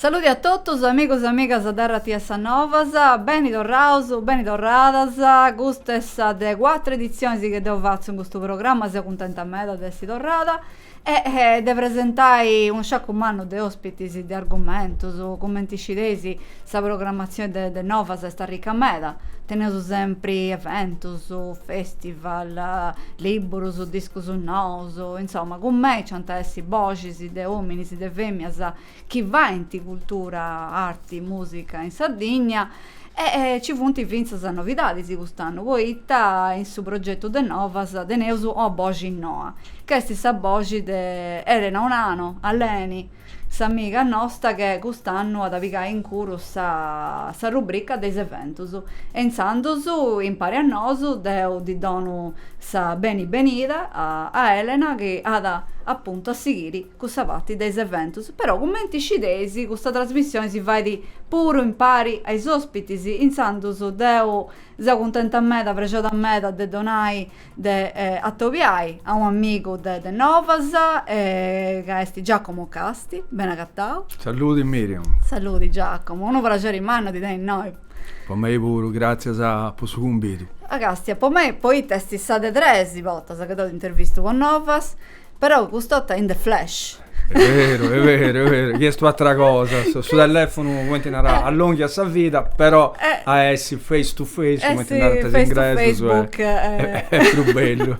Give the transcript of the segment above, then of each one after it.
Saludi a totus amigos e amigas de RTS Novas, beni torraus, beni torradas, custa est sa de cuatru edizionis chi deu fatzu in custu programma, seu cuntenta meda de essi torrada e de presentai unu sciaccu mannu de ospitis, de argumentus, cumenti scideis sa programmazioni de de Novas est arricca meda, teneus sempri eventus, festival, libburus, discus nous, insoma cun mei nc'ant a essi boxis. de ominis, de femias chi faint cultura, arti, musica in Sardigna e ci funt fintzas novidadis cust'annu poita in su progetu de Novas teneus una boxi noa, ca est sa boxi de Elena Onano, Aleni, s'amiga nosta che cust'annu at a pigai incuru sa rubrica de is eventus e intzandus impari a nosu deu ddi donu Sa beni benida a a Elena chi at apuntu a sighiri cussa parti de is eventus, però cumenti scideis custa trasmissioni si fait puru impari a is ospitis, intzandus deu seu cuntenta meda, prexioda meda de donai de atobiai a u' amigu de de Novas ca est Giacomo Casti, ben'agatau. Saludi Miriam. Saludi Giacomo, unu praxeri mannu a ti tenni innoi. Po mei puru, gràtzias po su cumbidu. Ah, càstia po mei poita est sa de tres bortas chi deu t'intervistu po Novas, però cust'ota in the flesh. Est beru, est beru, est beru, chi est u'atra cosa, su telèfonu cumenti narat allonghiat sa vida, però a essi face to face cumenti narant is ingresus est prus bellu.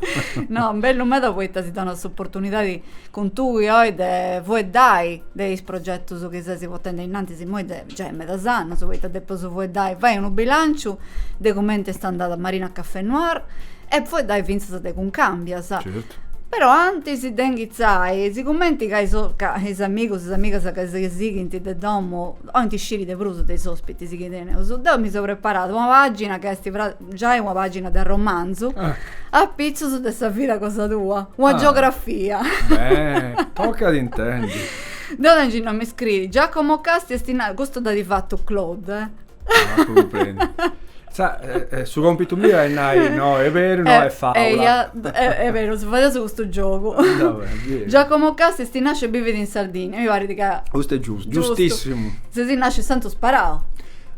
No, bellu meda poita si donat s'oportunidadi cun tui oi de fueddai de is progetus chi ses potendi ainnantis immoi de giai medas annus, poita depeus fueddai, fai unu bilanciu de cumenti est andada Marina Café Noir e fueddai fintzas de Cuncambias. Certu. Però antis de inghitzai, sigumenti ca is ca is amigus, is amigas ca si sighint de domu 'olint sciri de prus de is ospitis chi teneus, deu mi seu preparada una pagina ca est Giai una pàgina de romanzu apitzus de sa vida cosa tua, una biografia. Beh, tocat intendi. Deu tengiu innoi mi scriit Giacomo Casti est innantis, custu dd'at fatu Claude. Ah, cumprendi. Sa, su còmpitu miu est nai no, est beru, no est fàula. Eia, est beru, si fadeus custu giogu. Giacomo Casti est nasciu e bivit in Sardigna, mi parit ca. Custu est giustu, giustissimu. Ses nasciu in Santu Sparau.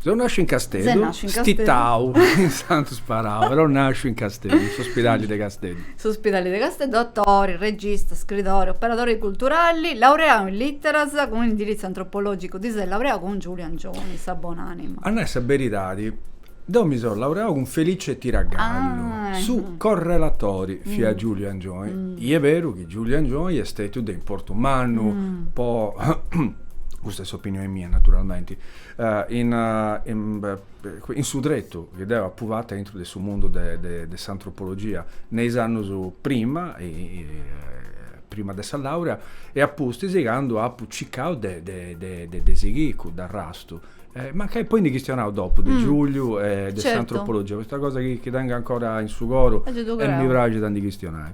Seu nàsciu in Casteddu, stitau in Santu Sparau, però nàsciu in Casteddu, in s'ospidali de Casteddu. S'ospidali de Casteddu, atori, regista, scritori, operadori culturali, laureau in literas cun indiritzu antropologicu, ti ses laureau cun Giuliu Angioni, sa bonanima. A nai sa beridadi, deu mi seu laureau cun Felice Tiragallu, su correlatori fiat Giuliu Angioni, i est beru chi Giuliu Angioni est stètiu de importu mannu po, custa est s'opinioni mia naturalmenti, In in su tretu chi deu apu fatu aintru de su mundu de s'antropologia, ne is annus prima, prima de sa laurea, e a pustis candu apu circau de de sighiri cudd'arrastu, mancai poi ndi chistionaus dopu de Giuliu e de s'antropologia, custa cosa chi tengu ancora in su coru e mi praxit a ndi chistionai.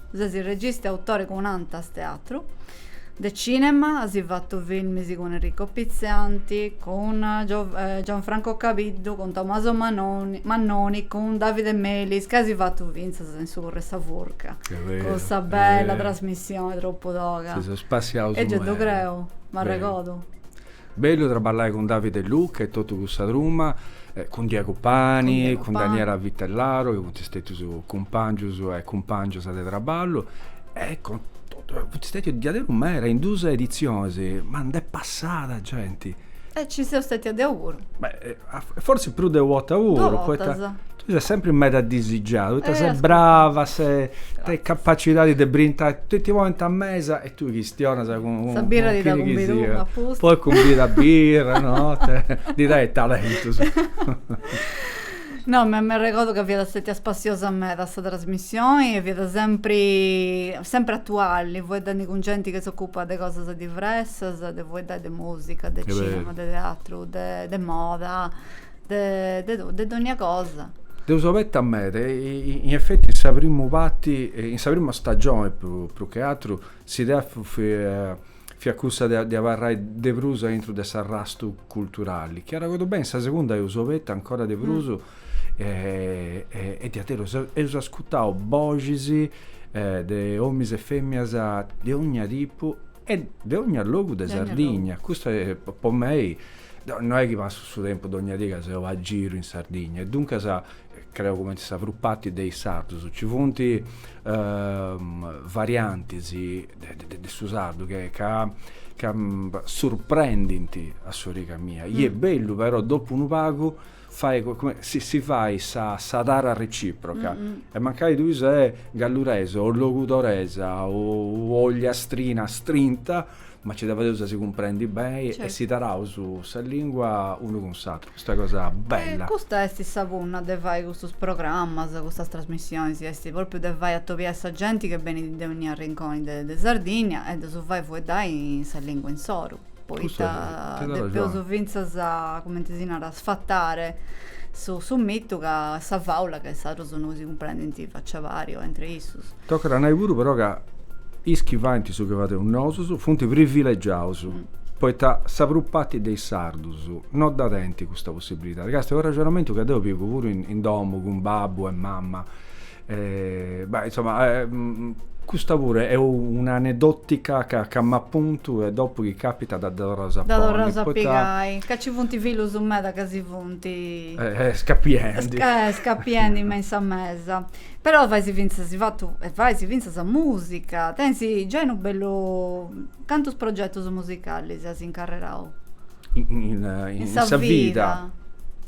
Ses regista e autori cun Antas Teatru. De cinema as fatu filmis cun Enrico Pitzianti, cun Gianfranco Cabiddu, cun Tommaso Mannoni, cun Davide Melis, ca as fatu finzas in su Corr'e sa Furca, cussa bella trasmissioni tropu toga. Si seus spassiaus. E gei ddu creu, m'arregodu. Bellu traballai cun Davide, Luca e totu cussa truma, cun Diego Pani, cun Daniela Vitellaro, chi funt stetius cumpangius e cumpangias de traballu, e cun totu, funt stetius diaderus meda, in duus editzionis, ma nd'est passada genti. E ci seu stetia deu puru. Fortzis prus de u' 'orta puru. Duas bortas. Tui ses sempri meda disigiada, poita ses brava, ses, tenis capacidadi de brintai, ti ponint a mesa Tui chistionas cun sa birra ti dda cumbidu apustis. Poi cumbida a birra no ddi dai talentus. No, m'arregodu ca fiat stetia spassiosa meda sa trasmissioni e fiat sempri sempri atuali fueddendi cun genti chi s'ocupat de cosas diversas de fueddai de musica de cinema de teatru de moda De dònnia cosa. Eus obertu meda, in efeti in sa primu parti, in sa prima stagioni prus che atru, s'idea fiat cussa de abarrai de prus aintru de s'arrastu culturali, chi arragodu beni, in sa segunda eus obertu ancora de prus e diaderus eus ascutau boxis de omis e feminas de dònnia tipu e de dònnia logu de Sardigna, custu po mei Deu no est chi passu su tempus dogna dì ca seu a giru in Sardigna e duncas creu cumenti sa prus parti de is sardus. Nci funt variantis de su sardu ca ca surprendint a s'origa mia. I est bellu però dopu unu pagu Fai comente si fai sa tara reciproca e mancai tui sei galluresa o logudoresa o ogliastrina astrinta, ma ci deveus a si cumprendi beni e s'imparaus sa lingua unu cun s'atru, custa cosa bella. Custa est sa punna de fai custus programas, custas trasmissionis, est propriu de fai atobiai sa genti chi benit de onnia rinconi de Sardinnia e de su fai fueddai sa lingua insoru. Poita depeus fintzas, comenti si narat, sfatare su mitu ca sa fàula ca is sardus no si cumprendint faci a pari o entre issus. Tocat a nai puru però ca is chi faint su chi fadeus nosus funt privilegiaus, poita sa prus parti de is sardus no dda tenint custa possibilidadi. Ca est u' arrexonamentu ca deu pigu puru in domu cun babbu e mama. Beh, insomma, custa puru est un'aneddòtica ca m'apuntu e dopu chi càpitat ddas torraus a ponni. Dda torraus a pigai. Ca nci funt fillus meda ca si funt. Scapiendi. Scapiendi me in sa mesa. Però faisi fintzas, as fatu, e faisi fintzas mùsica. Tensi giai unu bellu. Cantus progetus musicalis as incarrerau? in sa vida.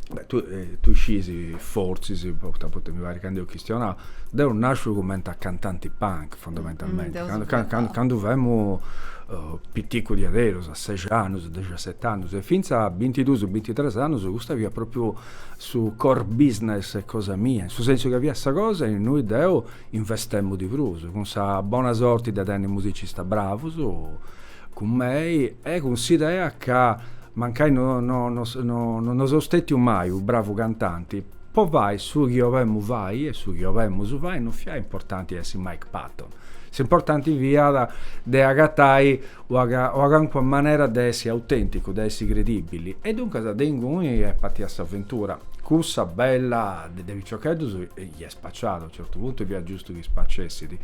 Beh, tui, tui scisi, fortzis, poita, poita mi parit ca nd'eus chistionau, deu nasciu cumenti a cantanti punk, fondamentalmenti, candu, candu femu piticus diaderus, a seixi annus, dexiaseti annus, e fintzas a bintiduus, bintitrus annus, custa fiat propriu su core business 'e cosa mia, in su sensu ca fiat sa cosa in innui deu investemu de prus, cun sa bona sorti de tenni musicistas bravus. Cun mei e cun s'idea ca mancai no seu stètiu mai unu bravu cantanti, po fai su chi 'olemu fai e su chi 'olemus fai no fiat importanti a essi Mike Patton, s'importanti fiat de agatai una calincuna manera de essi autènticu, de essi credìbili. E duncas de inguni est partida s'aventura, cussa bella de piciocheddus chi est Spaciat, a certu puntu e fiat giustu chi spacessit.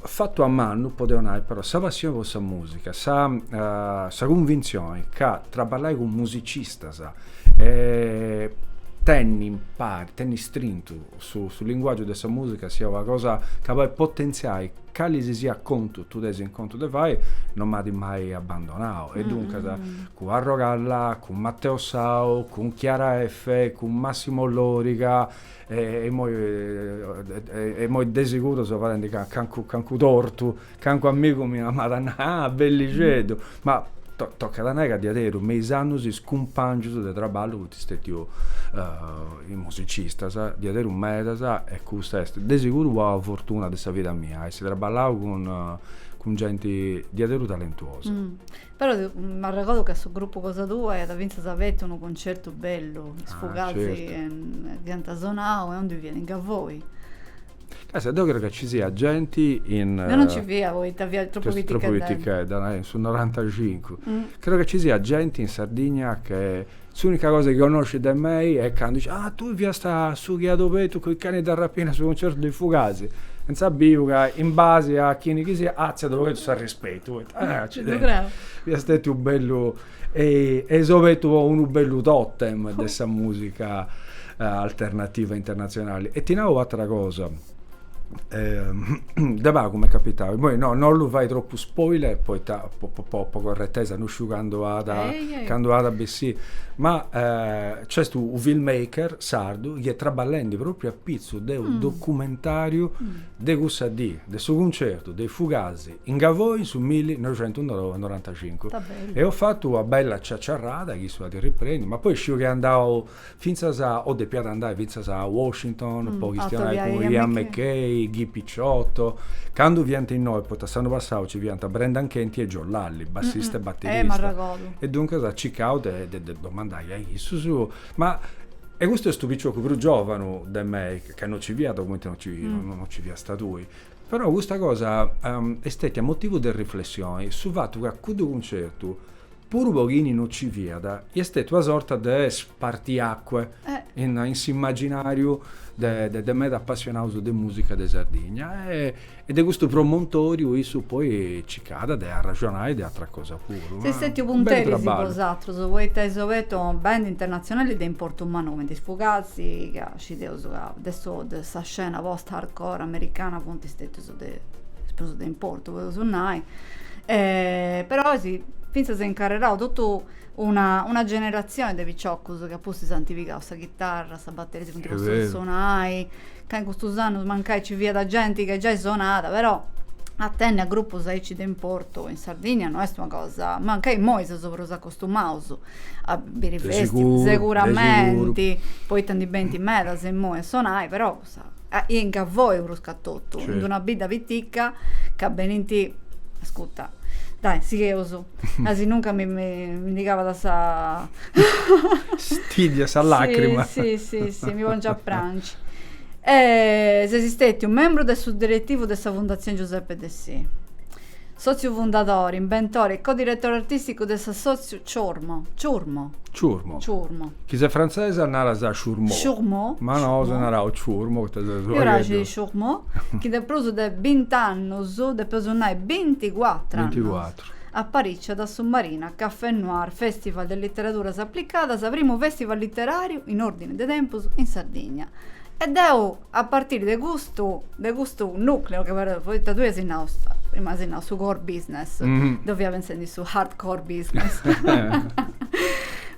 Fatu a mannu, potzu nai però, sa passioni po sa musica, sa sa cunvintzioni ca traballai cun musicistas e tenni impari, tenni istrintu su su linguaggiu de sa musica siat una cosa ca podit potentziai cali si siat contu tui ses in contu de fai, non m'at mai abbandonau. E duncas, cun Arrogalla, cun Matteo Sau, cun Chiara Effe, cun Massimo Loriga E immoi de seguru seu fadendi cancu tortu, cancu amigu miu m'at a nai, ah, bellixeddu, ma tocat a nai ca diaderus me is annus is cumpàngius de traballu funt stetius is musicistas, diaderus medas, e custa est de seguru una fortuna de sa vida mia, essi traballau cun genti diaderus talentuosa. Però m'arregordu ca su gruppu cosa tua iat fintzas abertu unu concertu bellu, is Fugazi iant sonau e ondi fiat in Gavoi. Sì, deu creu ca ci siat genti in. Deu non ci fia poita fia tropu pitichedda. Tropu pitichedda, in su noranta cincu. Creu ca ci siat genti in Sardigna che S'unica cosa chi connoscit de mei est candu dicit, Ah, tui fiast su chi at obertu cun is Cani da Rapina su concertu de is Fugazi. Insà biu ca, in basi a chini chi siat, atziat obertu s'arrispetu, poita, ah, accidenti, fiat stetiu u' bellu, eis obertu po unu bellu totem de sa musica alternativa internatzionali. E ti nau u' atera cosa. De pagu m'est capitau, immoi no no ollu fai tropu spoiler poita po po po corretesa, no sciu candu at candu at bessì, ma nc'est unu film maker sardu chi est traballendi propriu apitzus de unu documentariu de cussa dì, de su cuncertu de is Fugazi in Gavoi in su millinoixentunorantacincu. E eus fatu una bella ciaciarrada chi issu at riprendiu, ma poi sciu chi est andau Fintzas o depiat andai fintzas a Washington po chistionai cun Ian MacKaye, Guy Picciotto. Candu fiant innoi, poita s'annu passau nci fiant Brendan Canty e Joe Lally, bassista e baterista. E duncas at circau de ddu domandai a issus. Ma e custu est u' piciocu prus giovanu de mei, ca no nci fiat cumenti no nci fiast tui. Però custa cosa est stetia motivu de riflessioni, su fatu ca cuddu cuncertu Puru po chini no ci fiat, iat stetiu una sorta de spartiacque in s'immaginàriu de meda apassionaus de mùsica de Sardigna e de custu promontòriu issu poi circàt de arraxonai de atera cosa puru. Seis stetius punteris bosatrus, poita eis obertu band internatzionali de importu mannu cumenti is Fugazi, ca scideus ca de sa scena post-hardcore americana funt stetius de, is prus de importu podeus nai, e, però eis fintzas incarrerau totu una, una generatzioni de piciocus chi apustis ant pigau sa chitarra, sa bateria, si funt postus a sonai, ca in custus annus mancai nci fiat genti ca giai sonàt, però a tenni a grupus aici de importu in Sardigna no est una cosa, mancai imoi seus prus acostumaus a biri festival, seguramenti, poita ndi benint medas imoi a sonai, però In Gavoi prus ca totu, in d'una bidda pitica ca benint, ascuta, dai, sigheus, asinuncas mi ndi calat sa stiddia, sa lacrima. Si, si, si, mi pongiu a prangi. Ses stètiu membru de su diretivu de sa Fundatzioni Giuseppe Dessì. Sòtziu fundadori, imbentore e codiretore artìsticu de s'assòtziu Chourmo, Ciurmo? Ciurmo. Ciurmo. Chi ses frantzesu naras Chourmo. Chourmo. Ma nosu naraus Ciurmo poita seus u' pagheddu. Mi praxit Chourmo, chi de prus de bint'annus, depeus nai binticuatru annus. Binticuatru. Apariciat a su Marina Café Noir Festival de Literaduras Aplicadas, primu festival literàriu in òrdini de tempus in Sardigna. E deu. A partiri de custu, de custu nucleo che però, poita tui as nau, prima as nau su core business, deu fia pensendi su hard core business.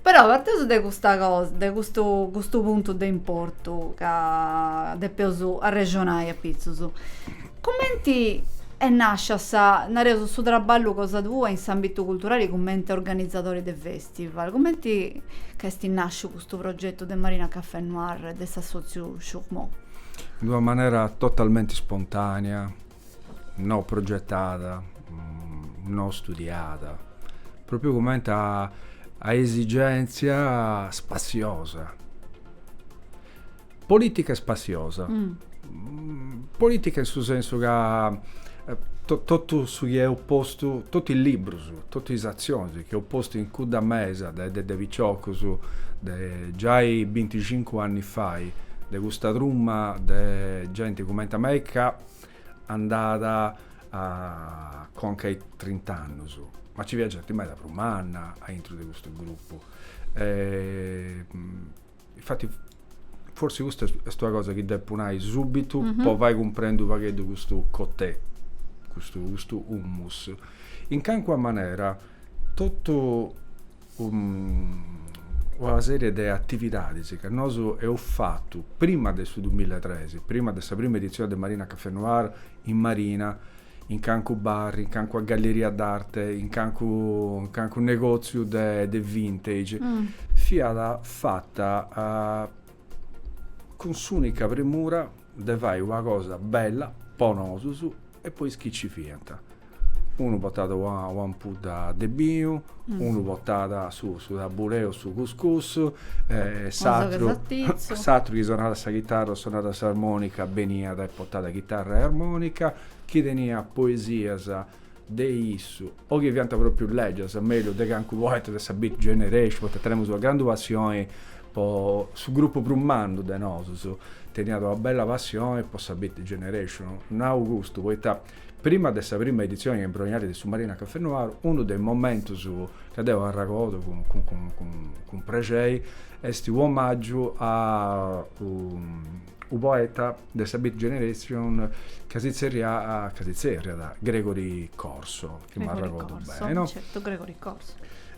Però parteus de custa cosa, de custu custu puntu de importu ca depeus arrexonai apitzus. Cumenti est nascia sa, nareus, su traballu cosa tua in s'ambitu culturali cumenti organizadori de fe? Stival, Cumenti est nàsciu custu progetu de Marina Cafè Noir de s'assòtziu Chourmo? In d'una manera totalmenti spontània, no progetada, no studiada, pròpriu cumenti a a esigèntzia spassiosa Polìtica e spassiosa, polìtica in su sensu ca totu su chi eus postu, totu is librus, totu is atzionis chi eus postu in cudda mesa de de piciocus, de giai binticincu anni fai, de custa truma de genti cumenti a mei ca andat a conca a is trint'annus, ma nci fiat genti meda prus manna aintru de custu grupu Infati forsi custa est una cosa chi depu nai subitu mm -hmm. po fai cumprendi u pagheddu custu cotè, custu, custu humus. In cancua manera totu um, una serie de atividadis ca nosu eus fatu prima de su 2003, prima de sa prima edizioni de Marina Cafè Noir in Marina, in cancu barri, in cancu galleria d'arte, in cancu, in cancu negòtziu de, de vintage, fiat fata cun s'ùnica premura de fai una cosa bella po nosus e po is chi nci fiant. Unu portat una, una ampudda de binu, unu portat su su tabulè o su cuscus e s'atru s'atru chi sonat sa chitarra o sonat s'armonica beniat e portàt chitarra e armonica chi teniat poesias de issu o chi fiant propriu lègias mellus de cancu poeta de sa Beat Generation poita tenemus una grandu passioni, su grupu prus mannu de nosus teniat una bella passioni po sa Beat Generation nau custu poita Prima de sa prima editzione embrionali de su Marina Cafè Noir, unu de is momentus ca deu arragodu cun prexeri est u' omàgiu a u' poeta de sa Beat Generation ca si tzerriat, ca si tzerriat Gregory Corso. chi m'arregordu bene. Certu, Gregory Corso.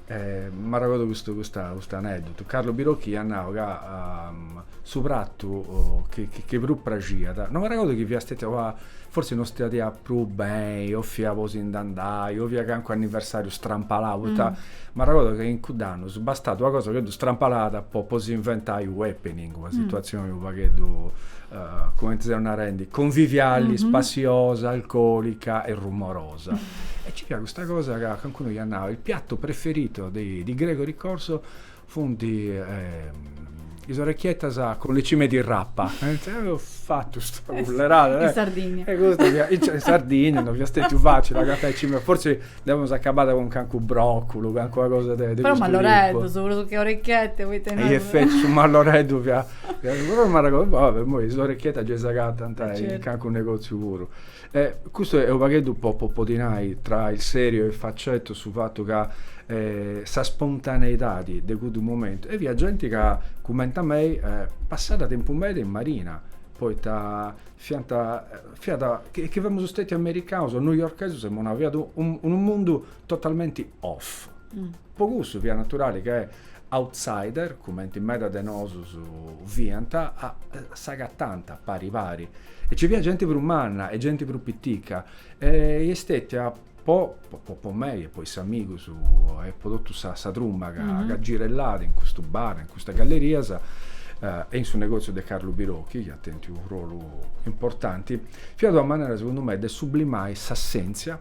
Eh, m'arregordu custu, custa, custu aneddotu. Carlo Birocchi iat nau ca um, su pratu oh, chi, chi, chi prus praxiat, no m'arregordu chi fiat stetia una, forsi no stiat prus beni, o fiat po si nd'andai, o fiat calincunu anniversariu strampalau, poita mm. m'arregordu ca in cudd'annus bastat una cosa totu strampalada po, po si inventai u' happening, una situazioni mm. u' pagheddu uh, cumenti seus narendi, conviviali, mm -hmm. spassiosa, alcolica e rumorosa. E nci fiat custa cosa ca calincunu iat nau, il piatto preferito di Gregory Corso funt is orecchiettas con le cime di rapa. Deu fatu is culleradas. In Sardigna. E custu fiat, in Sardigna non fiat stètiu facili agatai is cimes, fortzis dd'amus acabada cun calincunu bròculu, calincuna cosa de custu tipu. Però malloreddus, prus che orecchiette, poita innoi. In efetti su malloreddu fiat, però m'arregodu, boh, imoi is orecchiettas gei s'agatant in calincunu negòtziu puru. E custu est unu pagheddu po po podi nai tra il serio e il faceto su fattu ca sa spontaneidadi de cuddu momentu e fiat genti ca cumenti a mei passat tempu meda in Marina poita fiant fiat chi chi femus stetius americanus o newyorkesus emus nau fiat unu mundu totalmenti off. Mm. Po cussu fiat naturali che outsider, cumenti meda de nosus fiant, a, s'agatant pari pari. E ci fiat genti prus manna e genti prus pitica. E est stetia po, po, po mei e po is amigus e po totu sa, sa truma ca, mm-hmm. ca girellat in custu bar, in custas gallerias, eh, e in su negoziu de Carlu Birocchi, chi at tentiu unu rolu importanti, fiat una manera, segundu mei, de sublimai s'assentzia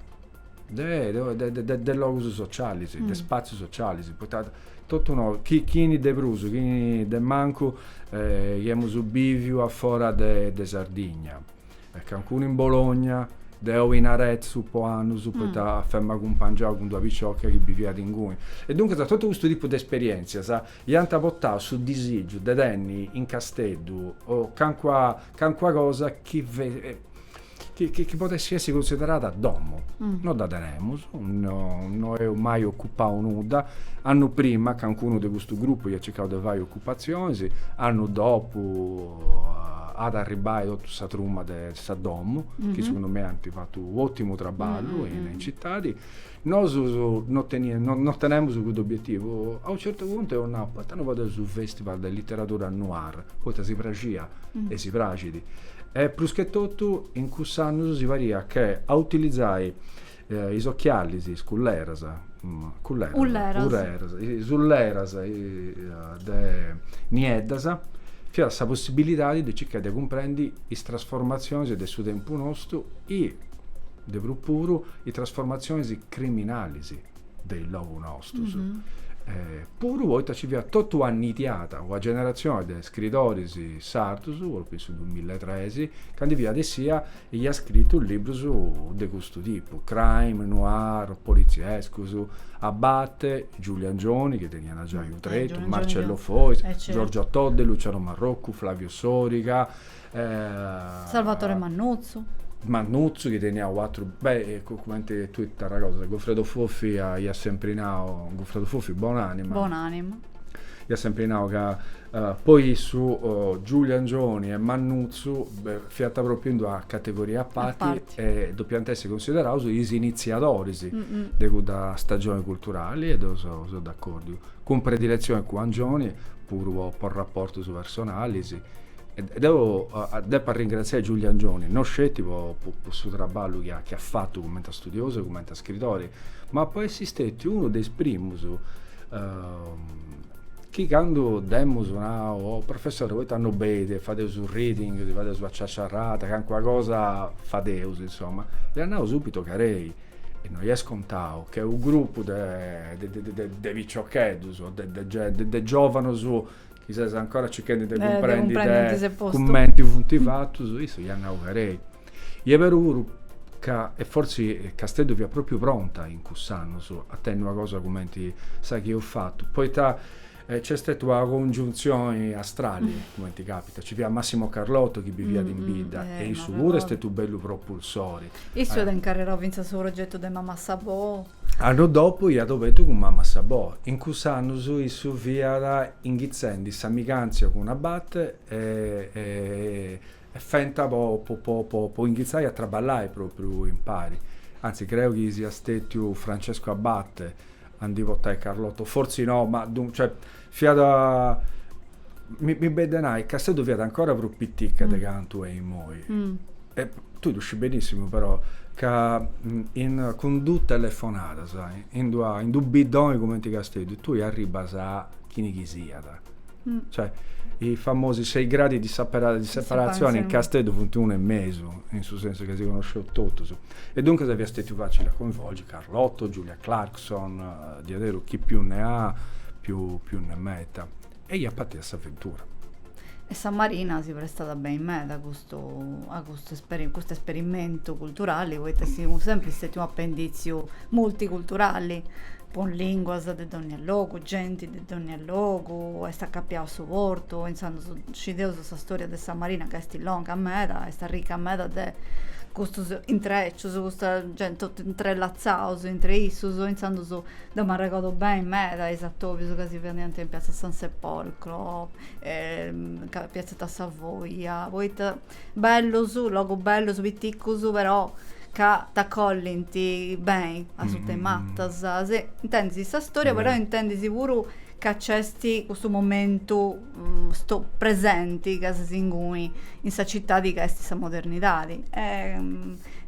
de logus socialis, de mm. spazius socialis, poita totu no, chi, chini de prus, chini de mancu, eh, iemus biviu a fora de, de Sardigna, e cancunu in Bologna, deu in Arezzu po annus, mm. poita fema cumpangiau cun d'una picioca chi biviat inguni. E duncas totu custu tipu de esperientzias iant portau su disigiu de tenni in Casteddu o cancua, cancua cosa chi chi podessi essi cunsiderada domu. No dda tenemus, no eus mai ocupau nudda, annu prima calincunu de custu grupu iat circau de fai ocupatzionis, annu dopu at a arribbai totu sa truma de Sa Domu, chi segundu mei ant fatu u' otimu traballu in citadi Nosus no no tenemus cuddu obietivu. A unu certu puntu eus nau, poita no fadeus unu festival de literadura noir, poita si praxia e si praxit. E prus che totu in cuss'annus si pariat chi a utilizai is ochialis, is culleras, culleras, ulleras, ulleras, is ulleras de nieddas fiat sa possibilidadi de circai de cumprendi is trasformatzionis de su tempus nostu e de prus puru is trasformatzionis criminalis de is logus nostus. Puru poita nci fiat totu una nidiada una generatzioni de scritoris sardus, propriu in su dumilla e tres, ca ndi fiat essia e iat scritu librus de custu tipu, crime, noir, poliziescus, Abate, Giuliu Angioni, chi teniat giai unu tretu, Marcello Fois, Giorgio Todde, Luciano Marrocu, Flavio Soriga, Salvatore Mannuzzu. Mannuzzu chi teniat u' atru, beh, cumenti tui t'arragodas, Gofredo Fofi iat sempri nau, Goffredo Fofi, bonànima. Bonànima. Iat sempri nau ca po issu Giuliu Angioni e Mannuzzu fiant propriu in d'una categoria a parti e depiant essi cunsideraus is initziadoris de cudda stagioni culturali e deu seu d'accordiu, cun prediletzioni cun Angioni, puru po raportus personalis E deu depu arringratziai Giuliu Angioni, no sceti po su traballu chi at fatu cumenti a studiosu e cumenti a scritori, ma po essi stetiu unu de is primus chi candu dd'emus nau, o professori poita no benit e fadeus unu reading, si fadeus una ciaciarrada, calincuna cosa fadeus, insoma, iat nau subitu ca ei, e no est scontau, chi a u' grupu de piciocheddus o de giovanus chi si funt ancora cerchendi de cumprendi, eh, de cumprendi de cumenti funt fatus, issu iat nau ca ei. Est beru puru ca, e forsi Casteddu fiat propriu pronta in cuss'annus a tenni una cosa cumenti sa chi eus fatu, poita nc'est stetiu una congiuntzioni astrali, cumenti capitat, nci fiat Massimo Carlotto chi biviat in bidda e issu puru est stetiu u' bellu propulsori. Issu iat incarrerau fintzas su progetu de Mamma Sabò. Annus dopu iat obetu cun Mamma Sabò. In cuss'annus issu fiat inghitzendi s'amigantzia cun Abate e fiant po inghitzai a traballai propriu impari. Anzi creu chi siat stetiu Francesco Abate a ndi portai Carlotto o fortzi no ma duncas Fiat, mi benit de nai, Casteddu fiat ancora prus piticca de cantu est immoi. E tui ddu scì benissimu però ca cun duas telefonadas in d'una in d'unu bidda cumenti Casteddu tui arribbas a chini chi siat. Cioè, is famosi sei gradi di sapera di separatzioni in Casteddu funt unu e mesu, in su sensu ca si connosceus totus. E duncas fiat stetiu facili a coinvolgi Carlotto, Giulia Clark, son, diaderu, chi più ne ha, più ne metta. E iat partiu s'aventura. E sa Marina si prestat beni meda a custu, a custu esperimentu culturali, poita seus sempri stetius un'apenditziu multiculturali, cun linguas de dónnia logu, genti de dónnia logu, est acapiau a su portu, intzandus scideus sa storia de sa Marina ca est longa meda, est arrica meda de custus intrecius, custa genti intrellatzados intre issus, intzandus deu m'arregordo beni meda a is atobius ca si fadiant in piatza San Sepolcro piatzetta Savoia, poita bellus, logus bellus, piticus, però ca t'acollint beni asuta 'e matas, intendis sa storia però intendis puru ca nc'est custu momentu custu presenti chi ses inguni in sa citadi ca esti sa modernidadi e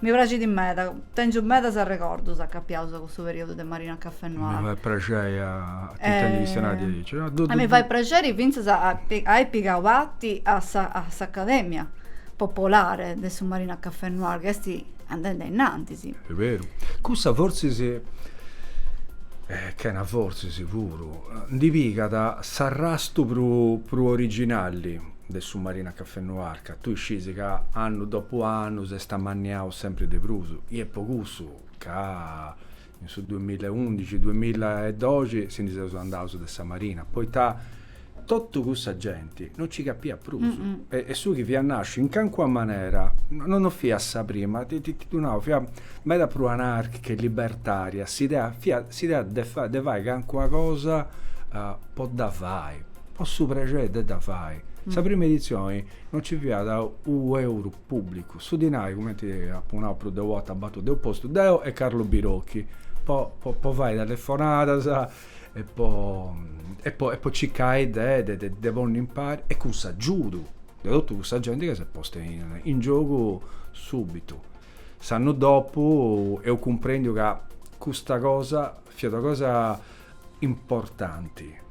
mi praxidi meda tengiu medas arregordus acapiaus a cussu periodu de Marina Cafè Noir, a mi fait praxei a t'intendi chistionai aici a mi fait praxeri finzas a ai pigau parti a sa a s'Academia popolare de su Marina Cafè Noir ca esti andendi ainnantis. Est beru cussa fortzis chena fortzis puru ndi pigat s'arrastu prus originali de su Marina Cafè Noir, ca tui scis ca annu dopu annu s'est amanniau sempri de prus, i est po cussu ca in su duamilla e undixi, duamilla e doxi si ndi seus andaus de sa Marina, poita totu cussa genti. no nci capiat prus e su chi fiat nàsciu in cancuna manera no fiat, a sa prima, ti ddu nau, fiat meda prus anàrchica e libertària s'idea, fiat s'idea de fai cancuna cosa po dda fai, po su prexeri de dda fai. Sa prima editzioni no nci fiat unu euru pùbblicu, su dinai, cumenti apu nau prus de una borta, ddu eus postu deu e Carlo Birocchi po fai telefonadas e po e po e po circai de de de de ponni impari e cun s'agiudu de totu cussa genti ca s'est posta in in giogu subitu s'annu dopu eus cumprendiu ca custa cosa fiat una cosa importanti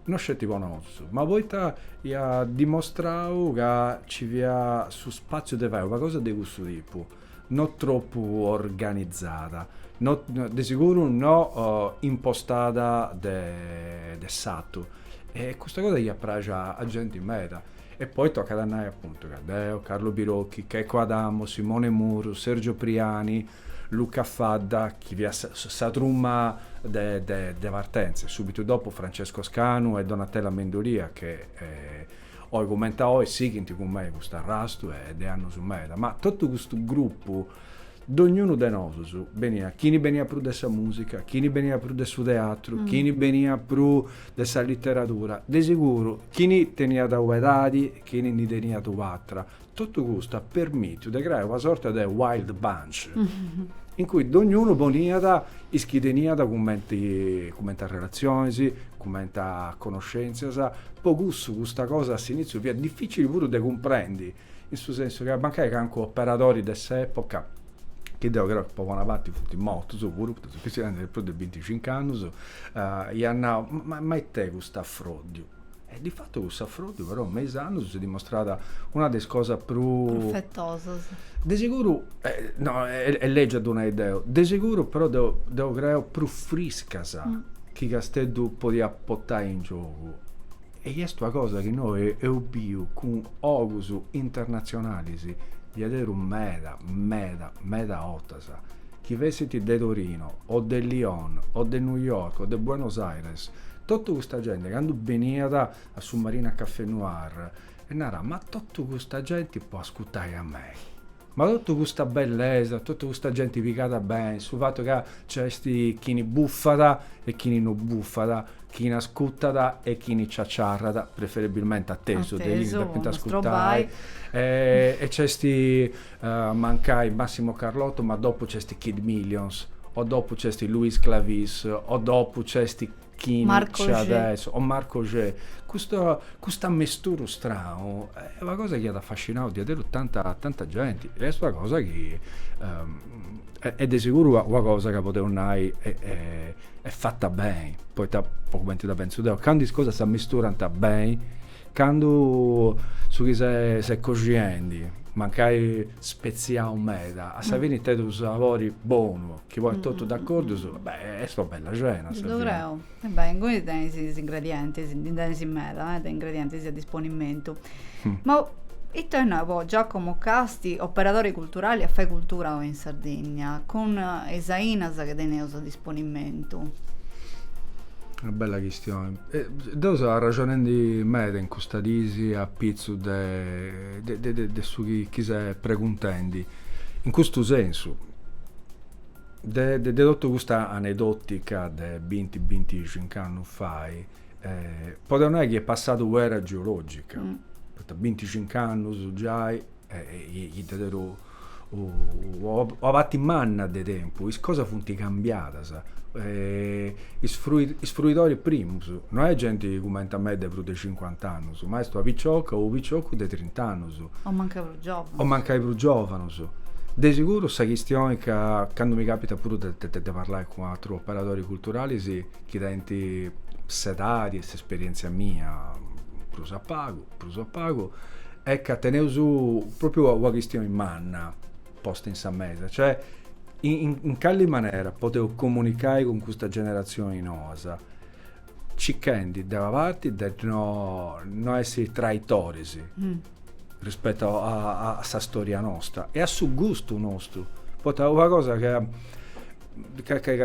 no sceti po nosu ma poita iat dimostrau ca ci fiat su spaziu de fai una cosa de cussu tipu no tropu organizada, no, de seguru no uh, impostada de, de s'atu. E custa cosa fiat pràxia a genti meda. E poi tocat a nai appuntu ca deu, Carlo Birocchi, Checco Adamo, Simone Muru, Sergio Priani, Luca Fadda, chi fiat sa, sa truma de, de, de partenza, e subitu dopu Francesco Scanu e Donatella Mendolia, chi eh, Oi cumenti a oi sighint cun mei custu arrastu e de annus meda, ma totu custu grupu, dognunu de nosus, beniat, chini beniat prus de sa musica, chini beniat prus de su teatru, chini beniat prus de sa literadura, de siguru chini teniat u'edadi, chini ndi teniat u'atra, Totu custu at permìtiu de creai una sorta de wild bunch in cui dognunu poniat is chi teniat cumenti cumenti arrelatzionis, cumenti a conoscèntzias, po cussu custa cosa a s'inìtziu fiat difìcili puru de cumprendi, in su sensu ca mancai cancu operadori de s'època, chi deu creu chi po bona parti funt mortus puru, poita si fut scriendu de prus de binticincu annus, iat nau, ma it'est cust'afròddiu. E di fatu cuss'afròddiu però me is annus s'est dimostrada una de is cosas prus... Profetosas. De seguru, eh, no, e, est lègiu a ddu nai deu, de seguru però deu, deu creu prus friscas chi Casteddu podiat portai in giogu. E i est una cosa chi innoi eus biu cun ogus internatzionalis diaderus meda, meda, meda 'ortas. 'ortas, chi fessint de Torino o de Lyon o de New York o de Buenos Aires, totu custa genti candu beniat a su Marina Café Noir e narat, ma totu custa genti po ascutai a mei, ma totu custa bellesa, totu custa genti pigada beni, su fatu ca nc'est chini bufat e chini no bufat, chini ascutat e chini ciaciarrat, preferebilmenti atesu, de is chi depint ascutai, e nc'est mancai Massimo Carlotto ma dopu c'esti Kid Millions o dopu c'esti Louis Sclavis o dopu c'esti chini c'at a essi o Marco G. Custa custu ammesturu stranu est una cosa chi at affascinau diaderus tanta tanta genti e est una cosa chi est de seguru una cosa ca podeus nai est fata beni, poita po cumenti dda pentzu deu candu is cosas s'ammesturant beni Candu su chi ses coxiendi mancai spetziau meda, a sa fini tenit unu sabori bonu chi ponit totu d'acordus, beh, est una bella cena a sa fini. Ddu creu. E beh, inguni tenis is ingredientis, ndi tenis meda de ingredientis a disponimentu. Ma ita bolit nai po Giacomo Casti, operadori culturali a fai cultura oi in Sardinnia, cun is ainas chi teneus a disponimentu? Una bella chistioni. Deu seu arraxonendi meda in custas dis a pitzus de su chi ses preguntendi, in custu sensu, de totu custa anedotica de binti binticincu annus fai, podeu nai chi est passada una era geologica, poita binticincu annus giai chi dda teneus una parti manna de tempus, is cosas funt cambiadas. Is fruidoris primus, no est genti cumenti a mei de prus de cincuant'annus, ma est una picioca o unu piciocu de trint'annus. O mancai prus giovanus. O mancai prus giovanus. De siguru sa chistioni ca, candu mi capitat puru de parlai cun aterus operadoris culturalis chi tenint s'edadi e s'esperientzia mia, prus a pagu, prus a pagu est ca teneus pròpriu una chistioni manna posta in sa mesa, cioè in calli manera podeus comunicai cun custas generatzionis noas, cichendi de una parti de no essi traitoris rispettu a sa storia nosta e a su gustu nostu, poita una cosa ca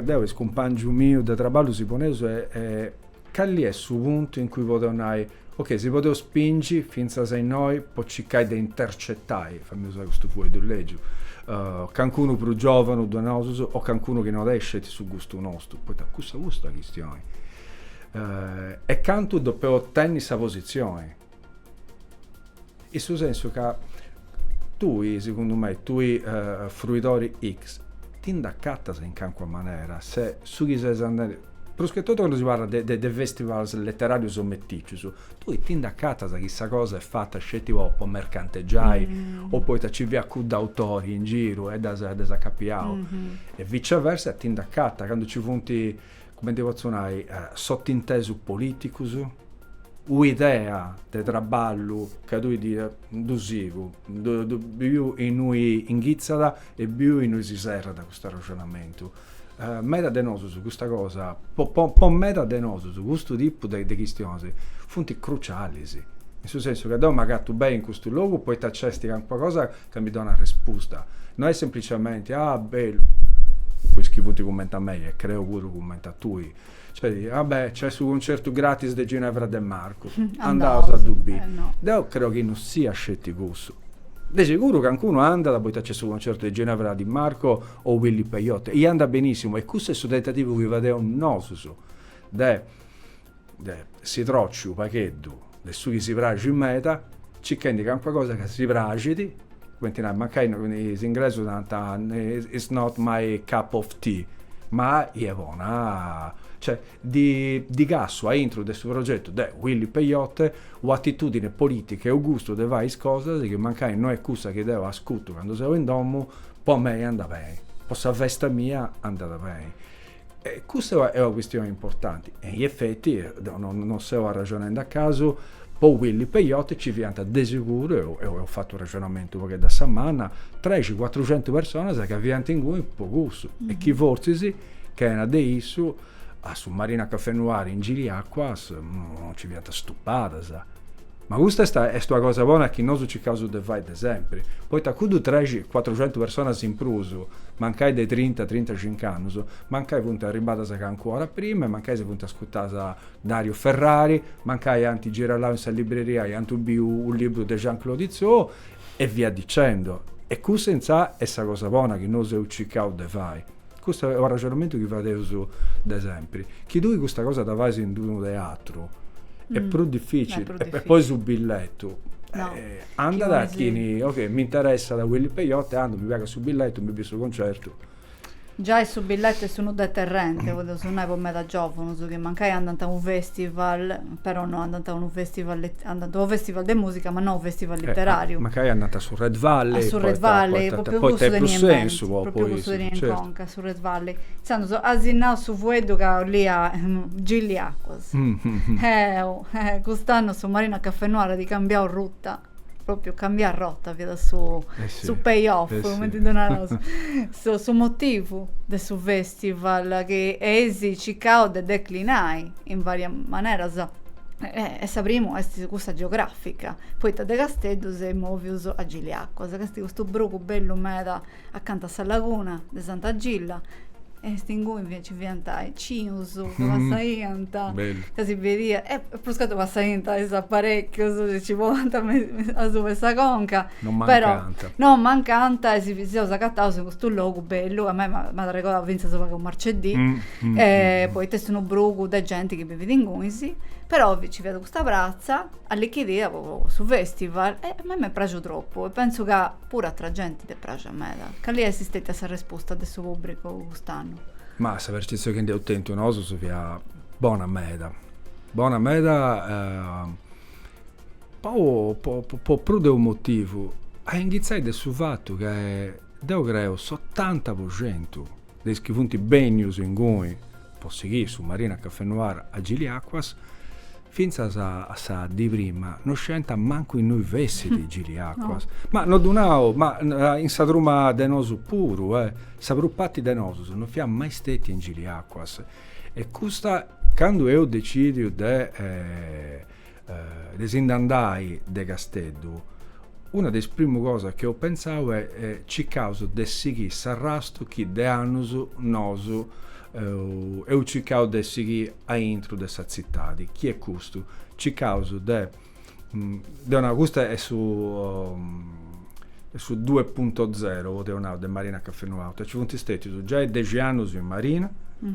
deu e is cumpangius mius de traballu si poneus est Calli est su puntu in cui podeu nai, ok, si podeus spingi fintzas a innoi po circai de intercetai, fai-mì usai custu fueddu legiu, cancunu prus giovanu de nosus o cancunu chi no tenit sceti su gustu nostu, poita cussa custa chistioni. E cantu depeus tenni sa posizioni. In su sensu ca tui, segundu mei, tui fruidori X, ti nd'acatas in cancuna manera, se su chi ses andendi, prus che totu candu si parlat de festivals leteràrius o metìcius, tui ti nd'acatas chi sa cosa est fata sceti po mercantegiai o poita nci fiat cuddu autori in giru e dd'as dd'as acapiau. E viceversa ti nd'acatas candu nci funt cumenti potzu nai, sotintesus politicus, u'idea de traballu ca tui ddu sigu, ddu biu innui inghitzat e biu innui si serrat custu arrexonamentu. Meda de nosus custa cosa, po meda de nosus custu tipu de chistionis funt crucialis, in su sensu ca deu m'agatu beni in custu logu poita nc'est calincuna cosa ca mi donat respusta, no est semplicemente, ah bellu, po is chi funt cumenti a mei e creu puru cumenti a tui, nc'est, ah beh, nc'est su concertu gratis de Ginevra De Marcu, andaus a ddu biri. Deu creu chi no siat sceti cussu. De seguru cancunu andat poita nc'est su concertu de Ginevra Di Marco o Willy Peyote e andat benissimu e cussu est su tentativu chi fadeus nosus de de si troci u' pagheddu de su chi si praxit meda, circhendi calincuna cosa ca si praxit, cumenti nai, mancai is inglesus narant it's not my cup of tea, ma est bona, cioè, nci cassu aintru de su progetu de Willy Peyote u' atitudini politica e u' gustu de fai is cosas chi mancai no est cussa chi deu ascutu candu seu in domu, po mei andat beni, po sa festa mia andat beni. E custa est una chistioni importanti, e in effetti, deu non seu arrexonendi a casu, po Willy Peyote nci fiant de seguru, e eus fatu u' arrexonamentu u' pagheddu a sa manna, trexentus cuatruxentu personas ca fiant inguni po cussu e chi fortzis chena de issu a su Marina Caffè Noir in Giliacquas non nci fiant stupadas. Ma custa est est una cosa bona chi nosu circaus de fai de sempri, poita cuddus trexentus cuatrucentu personas in prus, mancai de trinta, trintacinc'annus, mancai funt arribbadas calincuna ora prima e mancai si funt ascurtadas Dario Ferrari, mancai ant girellau in sa libreria e ant biu u libru de Jean Claude Izzo, E via dicendo. E custa intzà est sa cosa bona chi nosu eus circau de fai, custu est u' arrexonamentu chi fadeus de sempri, si tui custa cosa dda fais in d-unu teatru est prus dificili e poi su billetu anda ca chini, ok, m'interessat Willy Peyote andu, mi pagat su billetu, mi biu su concertu Giai su billete est unu deterrente podeus nai po meda giovunus chi mancai andant a unu festival però no andant a unu festival andant a unu festival de musica ma no a unu festival litterariu. Mancai andant a su red valley. A su red valley poita poita est prus sensu po po is certu. A su red valley. Intzandus asi nau su fueddu ca 'olia Giliacuas. Cust'annus su Marina Caffè Noir at cambiau rota. propriu cambiai rota fiat su eh sì, su pay off, eh cumenti sì. ddu naraus, su, su motivu de su festival chi eis circau de declinai in varias maneras. E, e sa primu est cussa geografica, poita de Casteddu si seis movius a Giliacuas, ca est custu brugu bellu meda Acanta a sa laguna de Santa Gilla e est inguni nci fiant is sitzulus chi mm, passaiant, bellu. ca si biiant, e pruscatotu passaiant is aparecchius si nci ponint asuba 'e sa conca, Non però mancant. non mancant e si seus agataus in custu logu bellu, a mei m'at m'at arregodau finzas u' pagu Marcedì, Mm, mm, e mm. poita est unu brugu de genti chi bivit inguni, però nci fiat custa pratza allichidida po su festival e a mei m'est praxiu tropu e pentzu ca Puru atra genti dd'est praxia meda. Cali dd'est stètia sa resposta de su pùbricu cust'annu? Ma sa percetzioni chi nd'eus tentu nosus fiat bona meda. Bona meda po prus de unu motivu. A inghitzai de su fatu ca deu creu s'otanta po centu de is chi funt bènnius inguni po sighì su Marina Café Noir a Giliacuas, fintzas a sa dì prima no scientat mancu innui fessit Giliacuas. Ma no, deu nau, ma in sa truma de nosu puru, sa prus parti de nosus no fiat mai stetia in Giliacuas e custa, candu eus decìdiu de de si nd'andai de Casteddu, una de is primu cosas chi eus pentzau est circaus de sighì s'arrastu chi de annus nosu eus circau de sighì aintru de sa tzitadi, chi est custu, circaus de, deu nau, custu est su de su due punto zero, po deu nau, de Marina Café Noir, nci funt stètius giai dexi annus in Marina,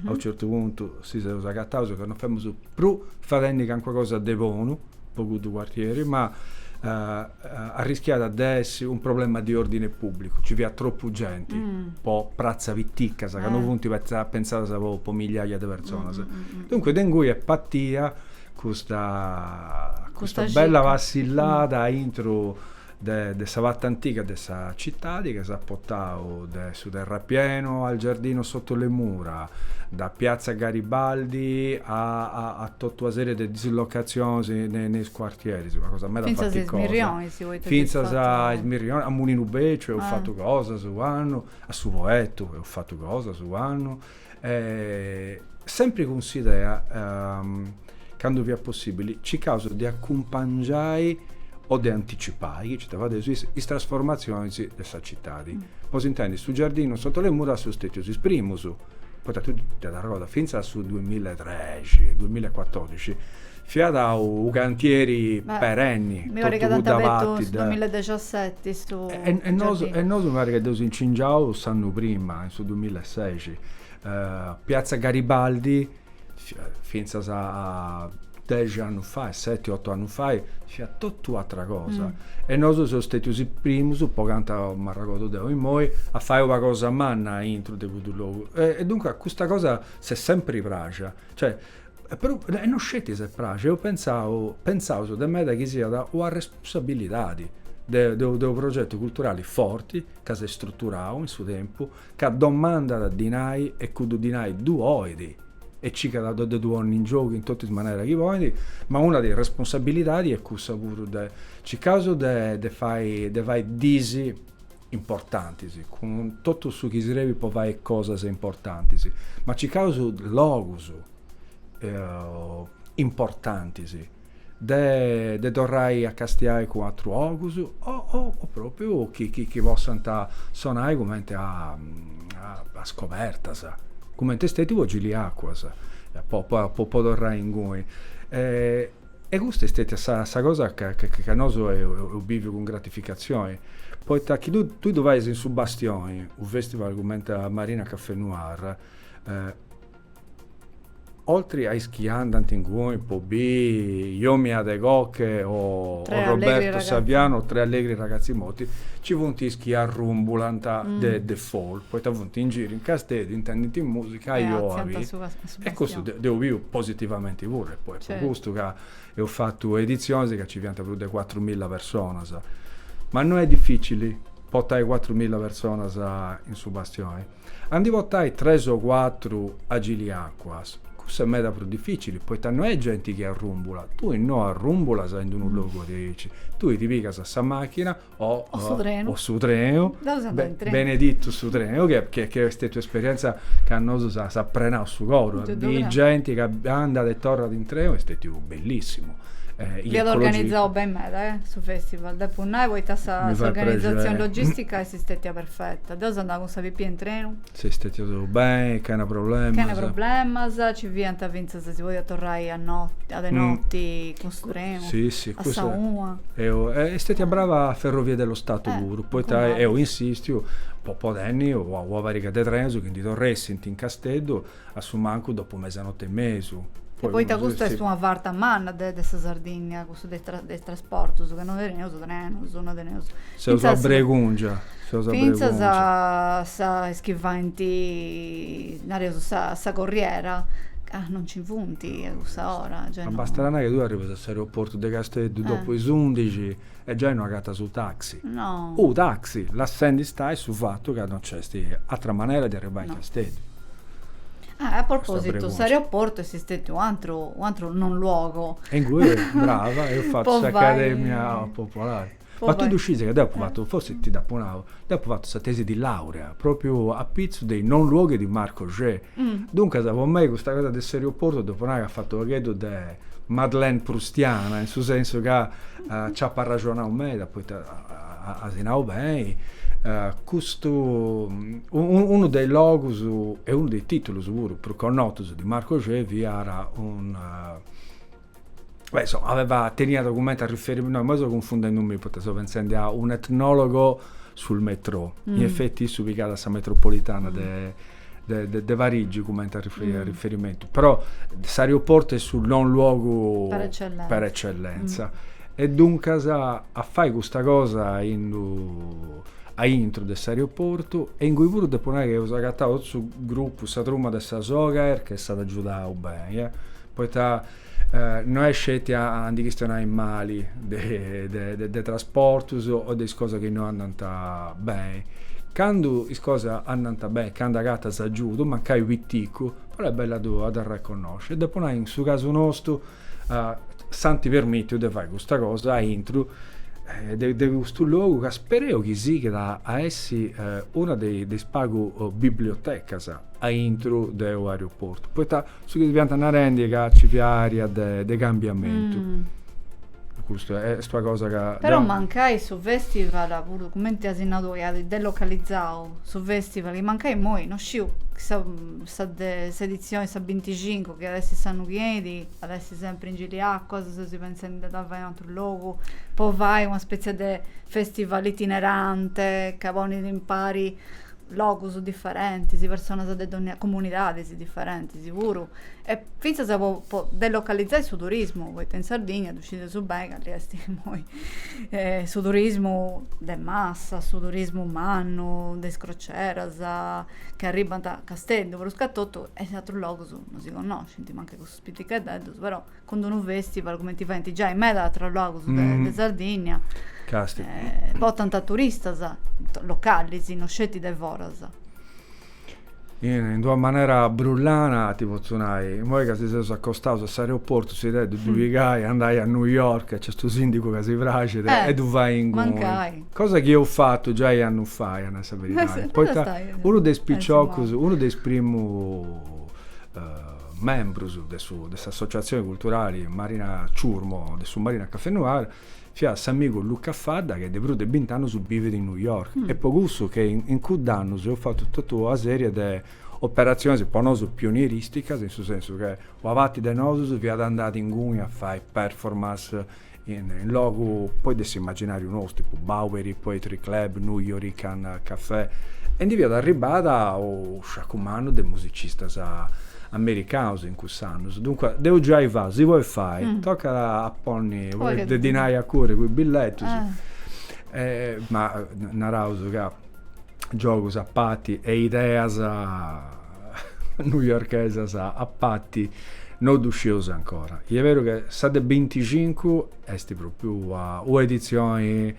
a u' certu puntu si seus agataus ca non femus prus fadendi calincuna cosa de bonu po cuddu cuartieri, ma arriscàt de essi u' problema di ordine pubblicu, nci fiat tropu genti po pratza pitica, ca non funt pentzadas po migliaia de personas. Duncas de ingui est partia Custa custa bella passillada aintru de de sa parti antiga de sa citadi ca s'at potau de su terrapienu al giardino sotto le mura, da piazza Garibaldi a a a totu una serie de dislocazionis ne ne is cuartieris, una cosa meda faticosa. Fintzas a Is Mirrionis, a Mulinu Beciu eus fatu cosas u' annu, a su Poettu eus fatu cosas u' annu, E sempri cun s'idea, candu fiat possibili, circaus de acumpangiai o de anticipai, chi nci dda fadeus is, is trasformatzionis de sa citadi. Po s'intendi, su giardinu sotto le mura seus stetius is primus, poita totu cudda cosa, fintzas a su duamilla e trexi, duamilla e catordixi Fiat unu cantieri perenni, totu cudda parti de. E nosu e nosu mi parit ca dd'eus incingiau s'annu prima, in su dumilaseixi. Piazza Garibaldi, fintzas a dexi annus fai, seti otu annus fai, fiat totu u'atra cosa. E nosu seus stetius is primus, po cantu m'arregordu deu immoi, a fai una cosa manna aintru de cuddu logu. E duncas custa cosa s'est sempri praxia. Cioè, Però no sceti s'est praxia, eus pentzau, pentzaus de meda chi siat una responsabilidadi de unu progetu culturali forti, ca s'est struturau in su tempu, ca domandat dinai e cuddu dinai ddu 'olit e circat de ddu ponni in giogu in totu is manera chi podit, ma una de is responsabilidadi est cussa puru de, circaus de, de fai disi importantis, cun totu su chi serbit po fai cosas importantis, ma circaus logus importantis de torrai a castiai cun atrus ogus o propriu chi possant sonai cumenti a scobertas, cumenti est stetiu po Giliacuas, po torrai inguni. E custa est stètia sa sa cosa ca ca nosu eus bìviu cun gratificatzioni, poita chi tui tui ddu fais in su Bastioni, u' festival cumenti a Marina Café Noir, oltri a is chi andant inguni po biri Yomi Adegoke o Roberto Saviano o Tre Allegri Ragazzi Morti, nci funt is chi arrumbulant de default, poita funt in giru in Casteddu, intendint musica, ajò a bi E custu deu biu positivamenti puru, e po est po custu ca eus fatu editzionis ca ci fiant prus de cuatru milla personas. Ma no est dificili portai cuatru milla personas in su bastioni. A ndi portai tres o cuatru a Giliacuas, cussa est meda prus dificili, poita no est genti chi arrumbulat, tui no arrumbulas in d'unu logu diaici, tui ti pigas sa machina, o, o su trenu, o su trenu. Be, trenu. benedittu su trenu ca, ca, ca est stètia un'esperienza ca a nosu s'at, s'at prenau su coru de genti chi andat e torrat in trenu est stètiu bellissimu eh, fiat organizau beni meda, eh, su festival, depu nai, poita sa, sa organizatzioni logistica est stètia perfetta. Deu seu andada cun sa pipia in trenu. Seus stètias beni, chena problemas. Chena problemas, ci fiant finzas Se si podiat torrai a noti, a de noti, mm. cun su trenu, sì, sì, a sa una. Eo, eh, est stètia brava a Ferrovia dello Stato eh, puru, poita eus insistiu, po, po tenni ua, ua pariga de trenos chi ndi torressint in Casteddu a su mancu dopu mesanote e mesu. Poi, e poita custa est una farta manna de, de sa Sardinnia. Su de de trasportu, su ca no teneus trenus, no teneus. Seus a bregùngia, seus a bregùngia. Fintzas a sa, is chi faint, nareus, sa sa corriera, ca no nci funt a cussa ora. Giai no. Ma bastat a nai ca tui arribas a s'aeroportu de Casteddu dopu is undixi e giai no agatas u' taxi. No. U' taxi, lassendi stai su fatu ca no nc'est atra manera de arribai in Casteddu. Ah, a propositu, s'aeroportu est stetiu u' atru, u' atru non luogo. E ingui, brava, eus fatu s'Academia Popolari. Ma tui ddu sciis ca deu apu fatu, forzis ti dd'apu nau, deu apu fatu sa tesi di laurea, propriu apitzus de is non luoghi di Marc Augé. Duncas, po mei custa cosa de s'aeroportu depu nai ca at fatu u' pagheddu de madeleine proustiana, in su sensu ca Nc'apo arraxonau meda poita as nau beni, custu, unu de is logus e unu de is titulus puru prus connotus de Marc Augé fiat un, beh insoma aveva, teniat cumenti a riferimentu, no imoi seu cunfundendi mi poita seu pentzendi a un etnologo sul metro, in effetti issu pigat a sa metropolitana de de, de Parigi cumenti a, riferi, a mm. riferimentu, però s'aeroportu est su non luogu per eccellenza. Mm. e duncas a fai custa cosa ind'u', a intru de s'aeroportu e ingui puru depu nai chi eus agatau totu su grupu, sa truma de sa Sogaer chi s'at agiudau beni, eh, poita No est sceti a ndi chistionai mali de trasportus o de is cosas chi no andant beni. Candu is cosas andant beni, candu agatas agiudu, mancai piticu, però est bellu a ddu arreconnosci. Depu nai, in su casu nostu, s'ant permitiu de fai custa cosa aintru de custu logu ca speru chi sighit a essi una de is pagu bibliotecas aintru de u' aeroportu, poita Su chi si fiant narendi ca ci fiat aria de cambiamentu. Custa est una cosa ca. Però mancai su festival puru cumenti asi nau tui at delocalizau su festival chi mancai immoi no sciu sa sa de s'edizioni sa binticincu chi at essi s'annu chi enit at essi sempri in Giliacquas o sesi pentzendi de dda fai in un'atru logu po fai una spetzia de festival itinerante ca ponit impari logus diferentis, personas de comunidadis diferentis puru, e fintzas po po delocalizai su turismu, poita in Sardigna ddu scideus beni ca nc'est immoi su turismu de massa, su turismu mannu, de is croceras, chi arribant a Casteddu, prus ca totu, e aterus logus non si connoscint, mancai Piticheddeddus, però, cun d'unu festival, cumenti faint giai in meda atrus logus de, de Sardinnia, eh, portant turistas, localis, no sceti de foras. In, in d'una manera brullana, ti potzu nai, immoi ca si seus acostaus a s'aeroportu, s'idea est de ddu pigai, andai a New York, nc'est custu sindigu ca si praxit, e ddu fai inguni. mancai. Cosa chi eus fatu giai annus fai, a nai sa beridadi, poita unu de is piciocus, unu de is primu Membrus de su de s'associatzioni culturali Marina Chourmo de su Marina Café Noir fiat s'amigu Luca Fadda chi de prus de bint'annus bivit in New York e po cussu che in cudd'annus eus fatu totu una serie de operatzionis po nosu pionieristicas in su sensu che una parti de nosus fiat andada inguni a fai performance In logu poi de s'immaginariu nostru, tipu Bowery Poetry Club, Nuyorican Cafè, e ndi fiat arribbada u sciacu mannu de musicistas americaus in cuss'annus. Duncue, dd'eus giai fatu, si podit fai, tocat a ponni, podit de dinai a curri cun is billetus, ma naraus ca giogus a parti e ideas. newyorkesas a pati no ddu scieus ancora. E est beru che sa de binticincu est propriu ua, ua edizioni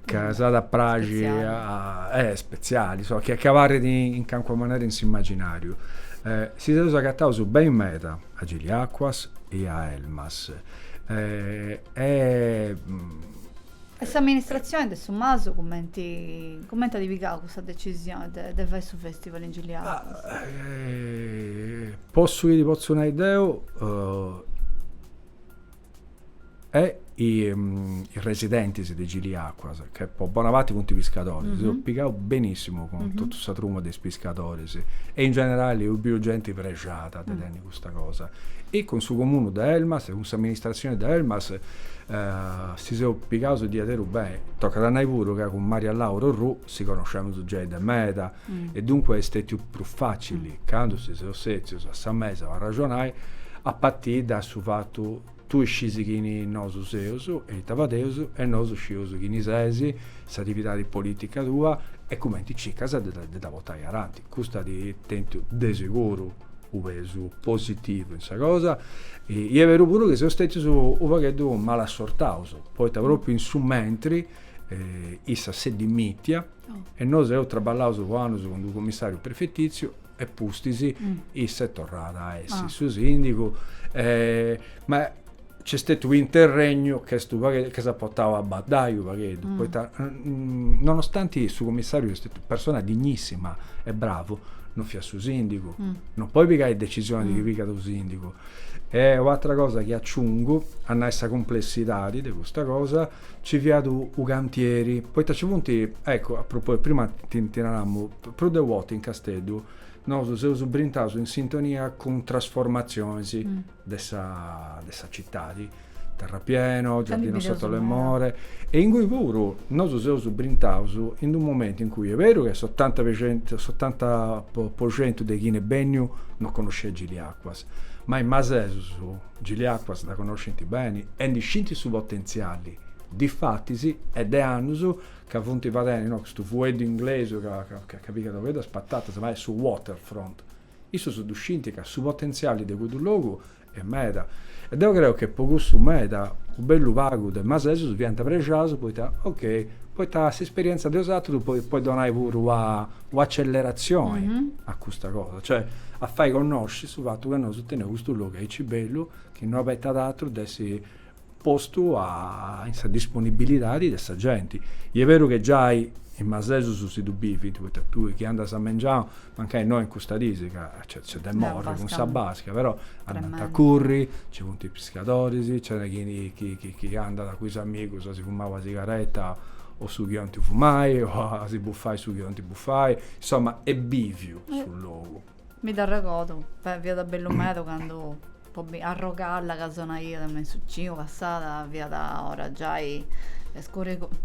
ca mm. s'at a praxi a, eh, speziali, so, chi, chi abarrit in, in calincuna manera in s'immaginariu. Eh, si seus agataus beni meda a Giliacquas e a Elmas. Eh, e. E s'amministratzione de su Masu cumenti cumenti at pigau custa decisione de de fai su festival in Giliacquas? po su chi ti potzu nai deu e is residentis de Giliacquas, ca po bona parti funt piscadoris, si seus pigaus benissimu cun totu sa truma de is piscadoris e in generali eus biu genti prexada de tenni custa cosa e cun su comunu de Elmas e cun s'amministratzioni de Elmas si seus pigaus a diaderus beni, tocat a nai puru ca cun Maria Laura Orrù si connoscemus giai de meda e duncue est stetiu prus facili candu si seus setzius a sa mesa po arraxonai a partiri da su fatu Tui scis chini nosu seus e ita fadeus e nosu scius chini ses, s'atividadi politica tua e cumenti circas de dda portai aranti. Custa at tentu de seguru u pesu positivu in sa cosa. E est beru puru chi seus stetius u pagheddu malassortaus, poita propriu in su mentri issa s'est dimitia e nosu eus traballaus po annus cun d'u commissariu prefetitziu, e pustis issa est torrada a essi su sindigu ma c'est stetiu u' interregnu ca est u' pagheddu ca s'at portau a baddai u' pagheddu poita nonostanti su commissariu est stetiu persona dignissima e bravu non fiat su sindigu no podit pigai decisionis chi pigat u' sindigu e u' atra cosa chi aciungu a nai sa cumplessidadi de custa cosa Ci fiat u cantieri, poita ci funt, eccu, a propòsitu, prima ti naramu, prus de u orta in Casteddu nosu seus brintaus in sintonia cun trasformatzionis de sa de sa citadi, Terrapieno, Giardino Sotto le Mura, e ingui puru nosu seus brintaus in d'u momentu in cui est beru chi s'otanta per centu, s'otanta po centu de chini est benniu non connosciat Giliacquas, ma is masesus Giliacuas dda conoscint beni e ndi scint su potentziali, difatis est de annus ca funt fadendi no custu fueddu inglesu ca pigat unu pagheddu a is patatas, ma est su waterfront. Issus ddu scint ca su potentziali de cuddu logu est meda e deu creu che po cussu meda u' bellu pagu de masesus fiant prexaus poita, ok, poita s'esperienza de is atrus podit donai puru a un'acelleratzioni a custa cosa, cioè a fai connosci su fatu ca nosu teneus custu logu aici bellu chi no abetat atru de essi postu a in sa disponibilidadi de sa genti. I est beru chi giai is masesus si ddu bivint, poita tui chi andas a mengianu, mancai no in custas dis ca Nc'est de morri cun sa basca, però andant a curri, nci funt is piscadoris, nc'est chi, chi, chi andat cun is amigus a si fumai una sigaretta o su chi 'olint fumai o a si bufai su chi 'olint bufai, insoma, est bìviu su logu. Mi dd'arregodu, fiat bellu meda candu Po bi Arrogalla ca sonaiat me in su ciu passada fiat ora giai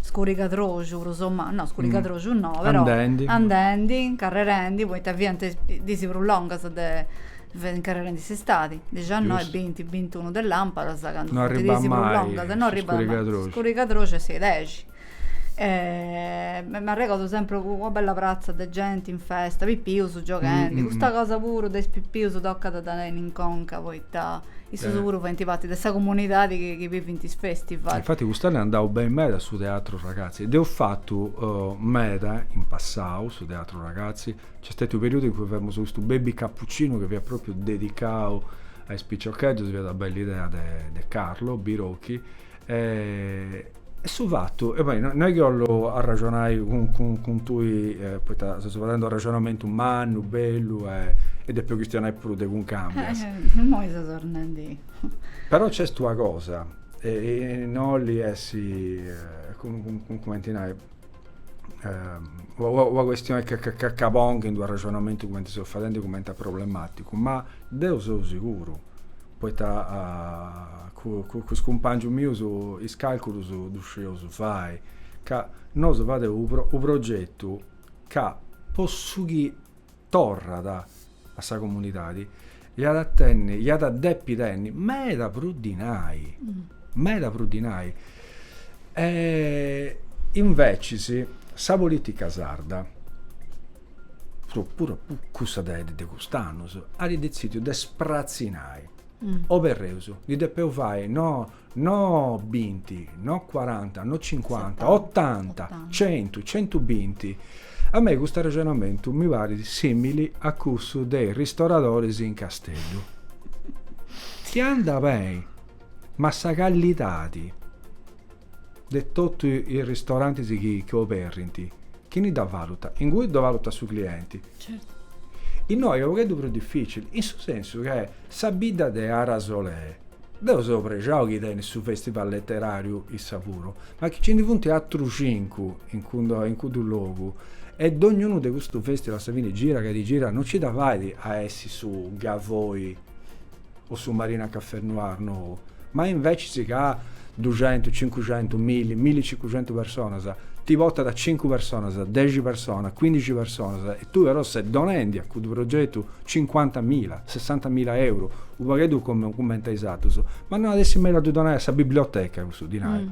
scurigadroxu prus o mancu no scurigadroxu no però andendi incarrerendi poita fiant dis prus longas de incarrerendi s'istadi dixannoi binti bintunu de lampadas candu funt is dis prus longas no arribat mai scurigadroxu scurigadroxu est a is dexi m'arregordu sempri una bella pratza de genti in festa, pipius gioghendi, custa cosa puru de is pipius tocat a dda tenni in conca poita issus puru faint parti de sa comunidadi chi bivint is festival. Infati cust'annu est andau beni meda su teatru ragazzi, dd'eus fatu meda in passau su teatru ragazzi, nc'est stetiu u' periudu in cui femus custu baby cappuccinu chi fiat propriu dedicau a is piciocheddus, fiat una bella idea de Carlo Birocchi E su fatu, e poi no est chi 'ollu arraxonai cun tui, poita seus fadendi unu arraxonamentu mannu, bellu e depu chistionai puru de Cuncambias. Immoi seus torrendi. Però nc'est una cosa, e no 'olit essi, cumenti nai una questioni ca ca pongu in d'u arrexonamentu cumenti seu fadendi cumenti a problematicu, ma deu seu siguru, poita cun cun is cumpangius mius is calculus ddus scieus fai, ca nosu fadeus u' progetu ca po su chi torrat a sa comunidadi iat a tenni, iat a depi tenni meda prus dinai, meda prus dinai. E invecis sa politica sarda, puru cussa de cust'annus, at detzidiu de spratzinai, oberreus, ndi depeus fai no No binti, no cuaranta, no cincuanta, otanta, centu, centu binti. A mei custu arrexonamentu mi parit simili a cussu de is ristoradoris in Casteddu. Chi andat beni, ma sa callidadi de totu is ristorantis chi oberint, chini dda valutat? Ingui ddu valutat su clienti. Innoi est u' pogheddu prus dificili, in su sensu ca sa bidda de Arasolè Deu seu prexau chi tenit su festival letterariu issa puru, ma chi ci ndi funt atrus cincu in cuddu logu e dognunu de custu festival a sa fini gira ca ti gira no ci dda fait a essi su Gavoi o su Marina Cafè Noir no, ma invecis ca duxentus, cincuxentus, milli, millicincuxentus personas ti portat cincu personas, dexi personas, cuindixi personas. Tui però ses donendi a cuddu progetu cincuanta mila, sessanta mila euru, unu pagheddu cumenti a is atrus, ma no at essi mellus a ddu donai a sa biblioteca cussu dinai,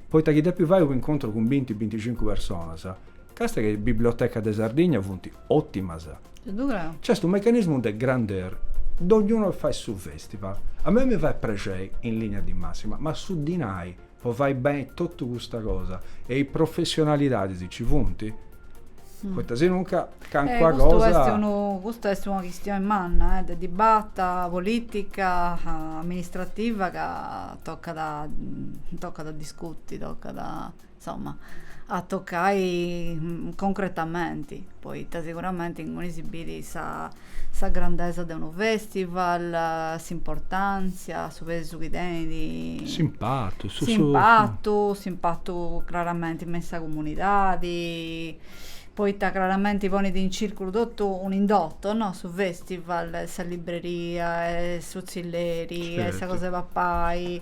poita chi depi fai un'incontru cun binti, binticincu personas. Càstia chi is bibliotecas de Sardigna funt otimas. Nc'est unu mecanismu de grandeur, dognunu fai su festival. A mei mi fait prexeri in linea di massima, ma su dinai po fai beni totu custa cosa e is professionalidadis ci funt? Poita si nunca calincuna cosa. Custu est unu, custa est una chistioni manna de dibata politica, amministrativa ca tocat, tocat a discuti, tocat a, insoma, a tocai concretamenti, poita siguramenti inguni si bit sa sa grandesa de unu festival, s'importàntzia, su pesu chi tenit. S'impatu. S'impatu, s'impatu craramenti me in sa comunidadi, poita craramenti ponit in circulu totu un'indoto, no, su festival, sa libreria, su tzilleri, sa cosa 'e papai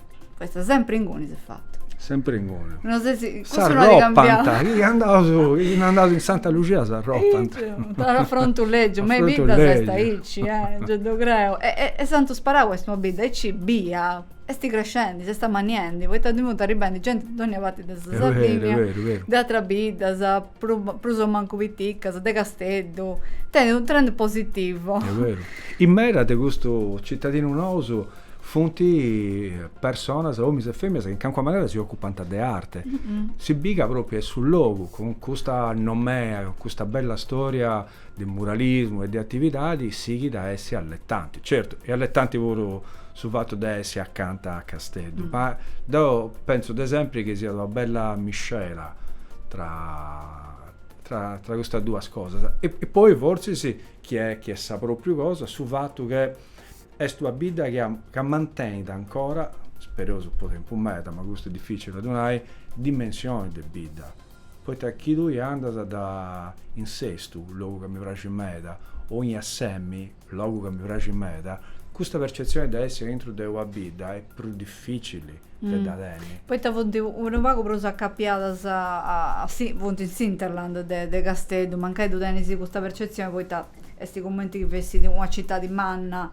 Po esse sempre inguni si fatu. Sempre inguni. No sei si custu no cambiau. Chi andaus, chi no andaus in Santa Lucia s'arropant. Afrontu legiu, ma bidda s'est aici, gei ddu creu. E s'ant sparau est una bidda, aici bia est crescendi, s'est amanniendi, poita ndi funt arribendi genti de dogna parti de sa Sardigna, de ateras biddas, prus o mancu piticas, de Casteddu. Tenit u' trend positivu. Est beru. E medas de custus citadinus nous Funt personas, omis e feminas, chi in calincuna manera si ocupant de arte. Si bì ca propriu est su logu, cun custa nomea, cun custa bella storia de muralismu e de atividadi, sighit a essi alletanti. Certu, est alletanti puru su fatu de essi acanta a Casteddu, ma deu pentzu de sempri chi siat una bella miscela tra tra custas duas cosas. E poi fortzis, chi est sa propriu cosa, su fatu chi Est una bidda chi ammantènit ancora, spereus po tempus meda, ma custu est dificili a ddu nai, dimensioni de bidda, poita chi tui andas da in Sestu, logu ca mi praxit meda, o in Assemi, logu ca mi praxit meda, custa percetzioni de essi aintru de una bidda est prus dificili de dda tenni. Poita funt unu pagu prus acapiadas a, funt in s'hinterland de Casteddu, mancai ddu tenis custa percetzioni poita Est cumenti chi fessit una citadi manna,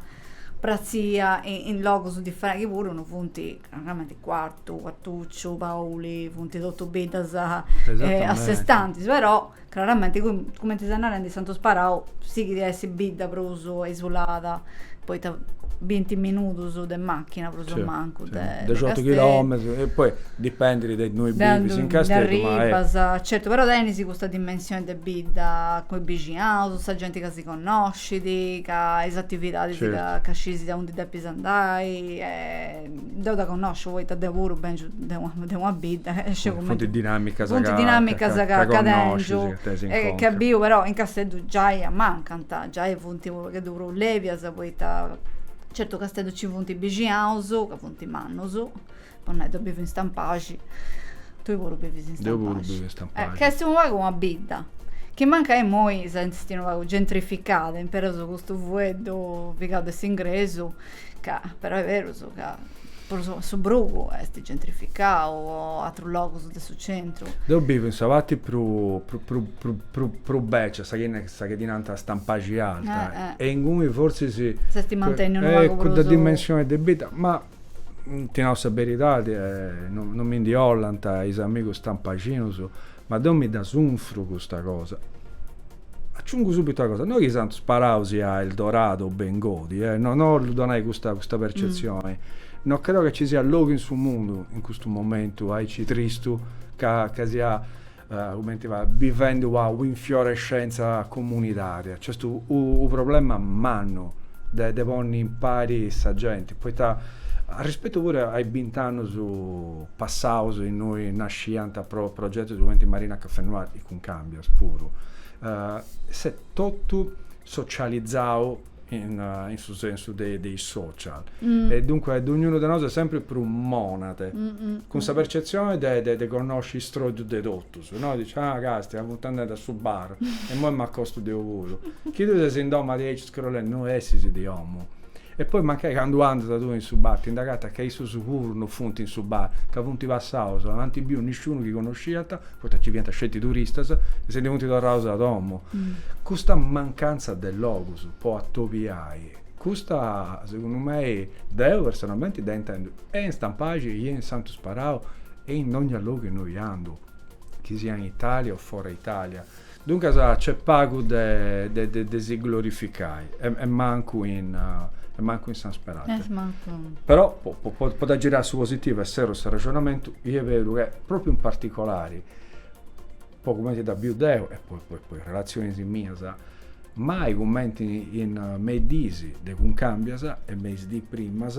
pratzida in logus differenti, chi puru no funt, craramenti Quartu, Quartucciu, Pauli, funt totus biddas a sé stantis, però craramenti cumenti ses narendi Santu Sparau sighit a essi bidda prus isulada poita binti minudus de machina prus o mancu de Casteddu. Dexiotu chilometrus, poi dipendit de innui bivis in Casteddu. De innui arribas, certu, però tenis custa dimensioni de bidda cun is bixinaus, sa genti ca si connoscit, ca is atividadis ca sciis aundi depis andai. Deu dda connosciu poita deu puru bèngiu de una bidda. Funt dinamicas ca connoscis. Funt dinamicas ca tengiu e ca biu, però in Casteddu giai amancant, giai funt pagheddu prus lèbias poita certu Casteddu nci funt bixinaus, ca funt mannus, po nai, deu bivu in Stampaxi, tui puru bivis in Stampaxi. Deu puru bivu in Stampaxi. Ca est unu pagu una bidda, chi mancai imoi s'est unu pagu gentrificada, impereus custu fueddu pigau de s'ingresu Ca, però est berus ca prus o su brugu est gentrificau o atrus logus de su centru. Deu bivu in sa parti prus prus beccia, sa chi sa chi ddi nanta Stampaxi Alta, e inguni fortzis, S'est mantenniu unu pagu prus. Cudda dimensioni de bidda, ma ti nau sa beridadi, non mi ndi 'ollant is amigus stampaxinus, ma deu mi dda sunfru custa cosa. Aciungu subitu una cosa, no chi Santu Sparau siat Eldorado o bengodi, eh, no no bollu donai custa custa percetzioni, no creu ca ci siat logu in su mundu in custu momentu aici tristu ca ca siat cumenti nai, bivendi una u' infiorescenza comunitària, nc'est u u problema mannu de de ponni impari sa genti, poita arrispetu puru a is bint'annus passaus innui nasciant progetus cumenti Marina Caffè Noir, e Cuncambias. puru s'est totu socializau in su sensu de is social e duncue dognunu de nosu est sempri prus monade cun sa percetzioni de connosci is troidus de totus, no, dici, ah, castia, funt andendi a su bar e imoi m'acostu deu puru, chi tui ses in domu a diaici Scrollende no essis de omu. E poi mancai candu andas tue in su bar ti nd'agatas ca issus siguru no funt in su bar ca funt passaus, no ant biu nisciunu chi connosciant, poita nci fiant sceti turistas, e si ndi funt torraus a domu. Custa mancantza de logus po atobiai, custa segundu mei, deu personalmenti dda intendu e in Stampaxi e in Santu Sparau e in dogna logu innoi andu, chi siat in Italia o fora Italia, Duncas nc'est pagu de si glorificai e mancu in San Sperate. Però po dda girai a su positivu e serru s'arrexonamentu, est beru che pròpriu in particolari, po cumenti dda biu deu e po is relatzionis mias, mai cumenti in me is diis de Cuncambias e me is diis primas,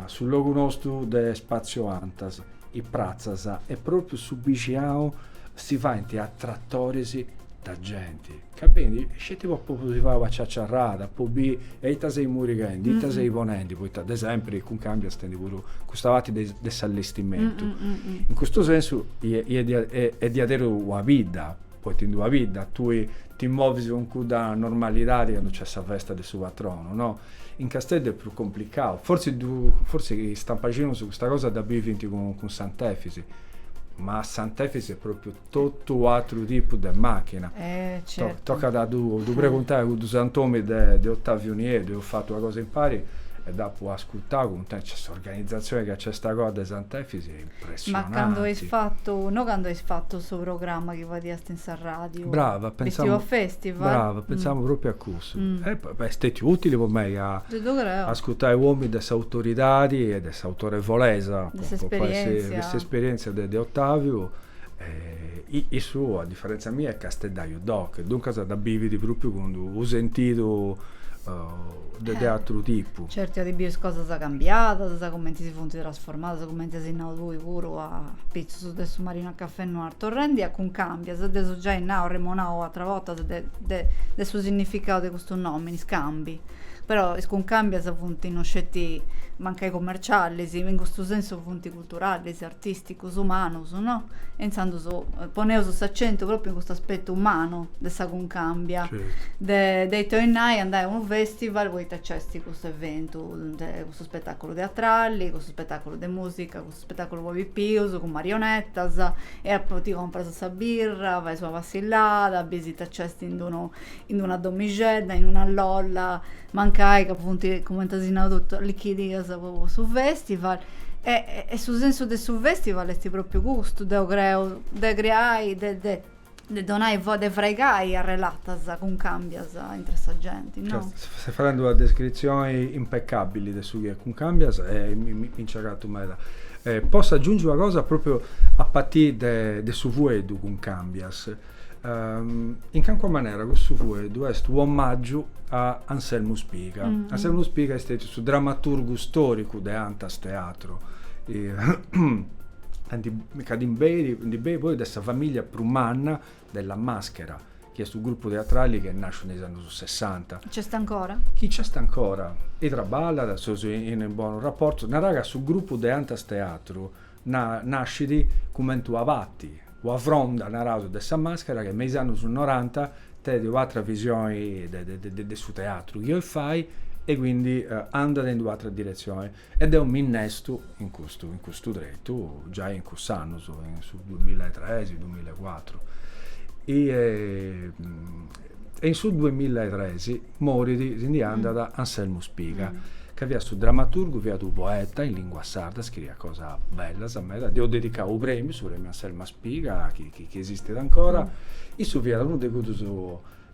Su logu nostu de Spazio Antas, is pratzas e propriu su bixiau si faint attrattoris de genti. Ca benit sceti po, po si fai ua ciaciarrada, po bi e ita seis murighendi, ita seis ponendi, poita de sempri Cuncambias tenit puru custa parti de s'allestimentu. In custu sensu est diaderus una bidda, poita in d'una bidda tui ti movis cun cudda normalidadi candu nc'est sa festa de su patronu, no. In Casteddu est prus complicau, fortzis, fortzis is stampaxinus custa cosa dda bivint cun Sant'Efis, ma Sant'Efis est pròpriu totu u' atru tipu de machina. Tocat a ddu preguntai a cuddu sant'omini de Ottaviu Nieddu, eus fatu una cosa impari e dd'apu ascurtau cuntentu, cioè s'organizatzioni chi nc'est agoa de Sant'Efis, Ma cando as fatu, no cando as fatu su programma chi fadiast in sa ràdiu. Brava, pensamu. Festival Festival. Brava, pensamu pròpriu a cussu. E est stètiu ùtili po mei a. Ddu creu. Ascurtai u' omini de s'autoridadi e de s'autorevolesa. De s'esperièntzia. De s'esperièntzia de Ottaviu. Issu, a diferèntzia mia, est casteddaju doc, duncas dda bivit pròpiu cun unu sentidu de ateru tipu. Certu iat biu is cosas cambiadas, cumenti si funt trasformadas, cumenti as nau tui puru a apitzus de su Marina Café Noir, torrendi a Cuncambias, dd'eus giai nau, arremonau ateras bortas de su sinnificau de custu nomini, scambi. Però is cuncàmbias funt no sceti mancai commercialis, in custu sensu funt culturalis, artisticus, umanus, no? E intzandus poneus s'accentu propriu in custu aspettu umanu de sa cuncambia, de, de ita 'oit nai andai a unu festival poita nc'est custu eventu, e custu spetaculu teatrali, custu spetaculu de musica, custu spetaculu po pipius, cun marionetas, e apoi ti comporas sa birra, fais una passillada, bis ita nc'est in d'unu in una domixedda, in una lolla, mancai ca funt, cumenti as nau totu, allichidias po su festival e e su sensu de su festival est propriu custu, deu creu, de creai, de de de donai, de fraigai arrelatas cuncambias intra sa genti, no? Ses fadendi una descritzioni impeccabili de su chi est Cuncambias e mi mi nci agatu meda. Posso agiungi una cosa, propriu a partiri de de su fueddu cuncambias In calincuna manera cussu fueddu est u' omaggiu a Anselmu Spiga. Anselmu Spiga est stètiu su dramaturgu stòricu de Antas Teatro ca ndi benit poi de sa famìllia prus manna de La Maschera, chi est u' grupu teatrali chi est nàsciu in is annus Sessanta. Chi nc'est ancora? Chi nc'est ancora e traballat, seus in bonus raportus. Narai ca su grupu de Antas Teatru Nascit cumenti una parti, una fronda, naraus, de sa màschera chi me is annus noranta tenit u' atra visioni de su teatru chi 'olit fai e quindi andat in d'u'atra diretzioni e deu m'innestu in custu in custu tretu giai in cussus annus, in su duamilla e tres, duamilla e cuatru. e in su duemilla e tres morit, si ndi andat, Anselmu Spiga, ca fiat su dramaturgu, fiat unu poeta in lingua sarda, scriiat cosas bellas meda, dd'eus dedicau unu premiu, su premiu Anselmu Spiga, chi chi esistit ancora, issu fiat unu de cuddus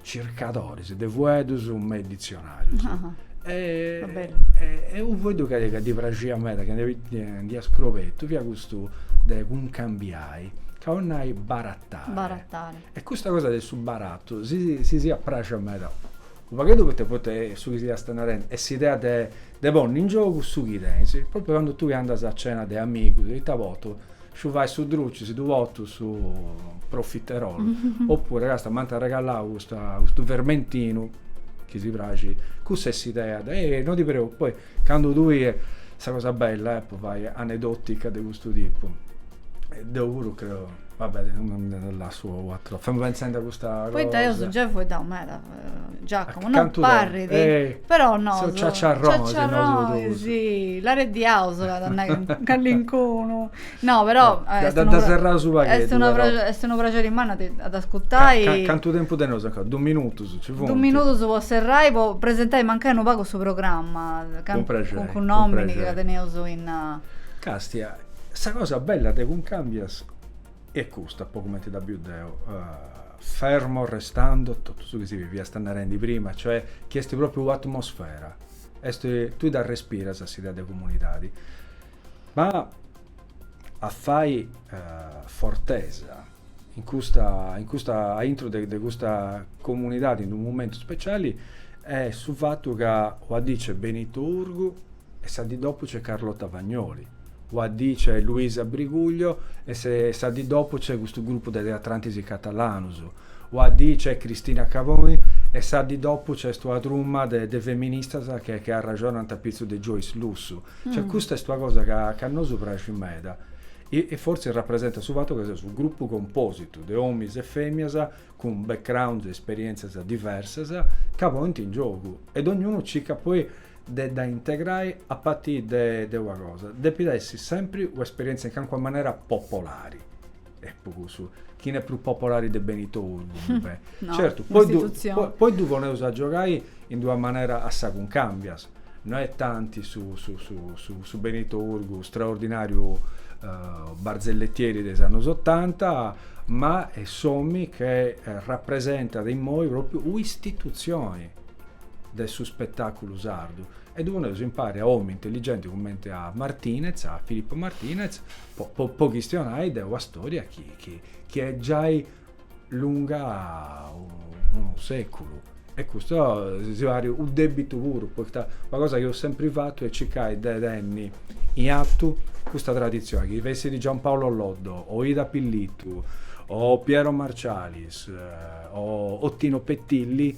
circadoris de fueddus me is ditzionarius e unu fueddu ca ddi praxiat meda, chi nd'iat scrobetu, fiat custu de cuncambiai, ca 'olit nai barattai E custa cosa de su baratu si si fiat praxia meda unu pagheddu poita poita su chi fiast narendi est s'idea de de ponni in giogu su chi tenis, propriu candu tui andas a cena de amigus ita potu sciu fai su druci si ddu potu su profiterolu oppuru castia m'ant arregalau custa custu vermentinu chi si praxit, cussa est s'idea de, e no ti preocupa poi Candu tui est sa cosa bella e po fai anedotica de custu tipu deu puru creu va bè lassu u atro femu penzendi a custa cosa poita eus geu fueddau meda Giacomo non parrit però nosu seus ciaciarronis nosu dus ciaciarronis lareddiaus at a nai calincunu No, però eh, depeus serrai unu pagheddu. Est una est unu praxeri mannu a dd'ascurtai. cantu tempus teneus ancora? Du minutus ci funt? Du minutus po serrai po presentai mancai unu pagu su programma. Cun praxeri. Cun cun nomini chi la teneus in. Castia, sa cosa bella de Cuncambias est custa, po cumenti ddu biu deu, fermo restando totu su chi si fiast narendi prima, cioè chi est propriu u' atmosfera, est, tui dda respiras s'idea de comunidadi. Ma a fai fortesa in custa, in custa, a intro de, de custa comunidadi, in d'unu momentu speciali, est su fatu ca una dì nc'est Benito Urgu e sa dì dopu nc'est Carlotta Vagnoli, una dì nc'est Luisa Briguglio e sa dì dopu nc'est custu grupu de teatrantis catalanus, una dì nc'est Cristina Caboni e sa dì dopu nc'est una truma de, de feministas che, che arraxonant apitzus de Joyce Lussu. Cioè custa est una cosa ca a nosu praxit meda e fortzis rapresentat su fatu ca seus unu grupu compositu de omis e femias cun background e esperientzias diversas ca ponint in giogu e dognunu circat poi de dda integrai a partiri de una cosa, depit essi sempri una esperientzia in calincuna manera popolari. e po cussu chini est prus popolari de Benito Urgu, no, certu poi ddu, poi, poi ddu poneus a giogai in d'una manera a sa Cuncambias no est tanti su, su, su, su, su Benito Urgu straordinariu uh, barzellettieri de is annus otanta ma est s'omini che rapresentat immoi propriu un'istitutzioni de su spetaculu sardu E ddu poneus impari a omi intelligenti cumenti a Martinez, a Filippo Martinez, po, po, po chistionai de una storia chi, chi, chi est giai lunga unu seculu. E custu si pari u debitu puru, poita una cosa chi eus sempri fatu est circai de tenni in atu custa tradizioni, chi fessit Giampaolo Loddo, o Ida Pillittu, o Piero Marcialis, o Tino Petilli,